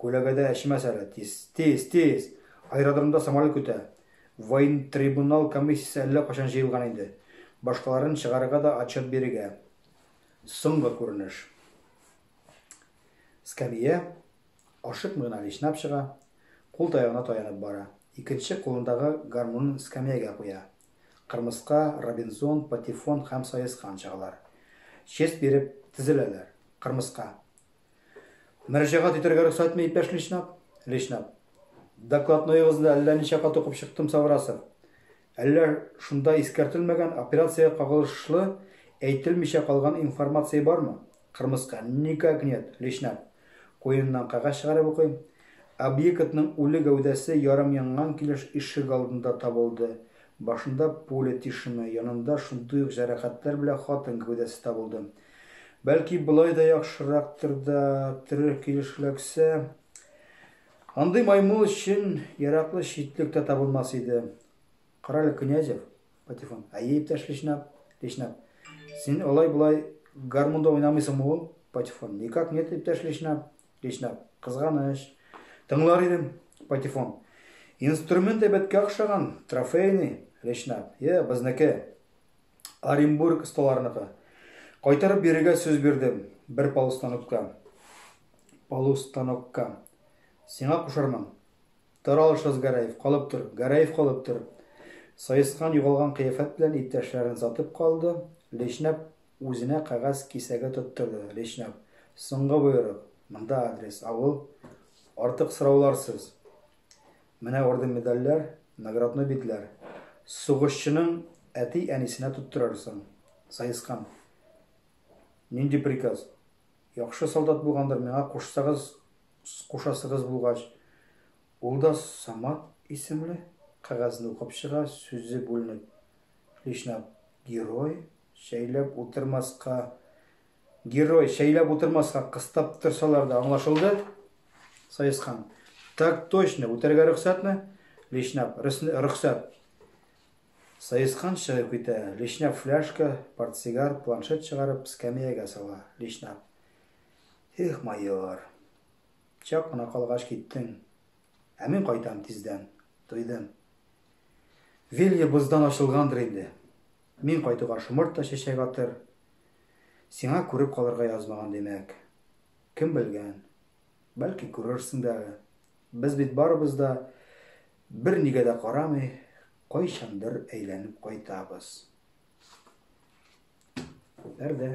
Күләгәдә эчмәс әле, тиз, тиз, тиз! Аэродромда самолет көтә. Воентрибунал комиссиясе әллә кайчан җыелган инде. Башкаларын чыгарырга да отчет бирергә. Соңгы күренеш. Скамия, ашыкмый гына вишнап чыга, кул таягына таянып бара. Икенче кулындагы гармунын скамиягә куя. Кырмыска, Робинзон, Патефон һәм Саескан чыгалар. Честь биреп, тезеләләр. Кырмыска. Мөрәҗәгать итәргә рөхсәтме, иптәш Личнап? Личнап. Докладноегызны әллә ничә кат укып чыктым, Саврасов. Әллә шунда искәртелмәгән, операциягә кагылышлы әйтелмичә калган информация бармы? Кырмыска. Никак нет, Личнап. Куеныннан кәгазь чыгарып укый. Объектның үле гәүдәсе ярым янган килеш ишегалдында табылды. Башында пуля тишеме, янында шундый ук җәрәхәтләр белән хатын гәүдәсе табылды. Бәлки болай да яхшырактыр да, тере килеш эләксә. Андый маймыл өчен яраклы читлек тә табылмас иде. Карале, Князев, Патефон, әйе, иптәш Лишнап, Лишнап. Син алай-болай гармунда уйнамыйсыңмы ул? Патефон, никак нет, иптәш Лишнап, Лишнап. Кызганыч. Тыңлар идем, Патефон. Инструмент әйбәткә охшаган, трофейный, Лишнап. Е, безнеке. Оренбург осталарыныкы. Кайтарып бирергә сүз бирдем. Бер полустанокка. Полустанокка. Сиңа кушармын. Тор алышыз Гәрәев, калып тор. Гәрәев калып тор. Саескан югалган кыяфәт белән иптәшләрен сатып калды. Лешнәп үзенә кәгазь кисәге тоттырды. Лешнәп. Соңгы боерык. Монда адрес. Авыл. Артык сорауларсыз. Менә орден-медальләр, наградной битләр. Сугышчының әти-әнисенә тоттырырсың. Саескан. Нинди приказ? Яхшы солдат булгандыр, миңа кушсагыз, кушасыгыз булгач. Ул да Самат исемле кәгазьне укып чыга, сүзе бүленеп. Личнап, герой, шәйләп утырмаска, Герой, чәйләп утырмаска, кыстап торсалар да, аңлашылды? Саескан. Так точно, үтәргә рөхсәтме? Лешнап. Рөхсәт. Саескан чыгып китә. Лешнап фляжка, портсигар, планшет чыгарып, скамеягә сала. Лешнап. Эх, майор. Чак кына калгач киттең. Ә мин кайтам тиздән. Туйдым. Вилья боздан ачылгандыр инде. Мин кайтуга шомырт та чәчәк атыр. Сиңа күреп калырга язмаган, димәк. Кем белгән. Бәлки күрерсең дә әле. Без бит барыбыз да бернигә дә карамый, кайчандыр әйләнеп кайтабыз. Пәрдә.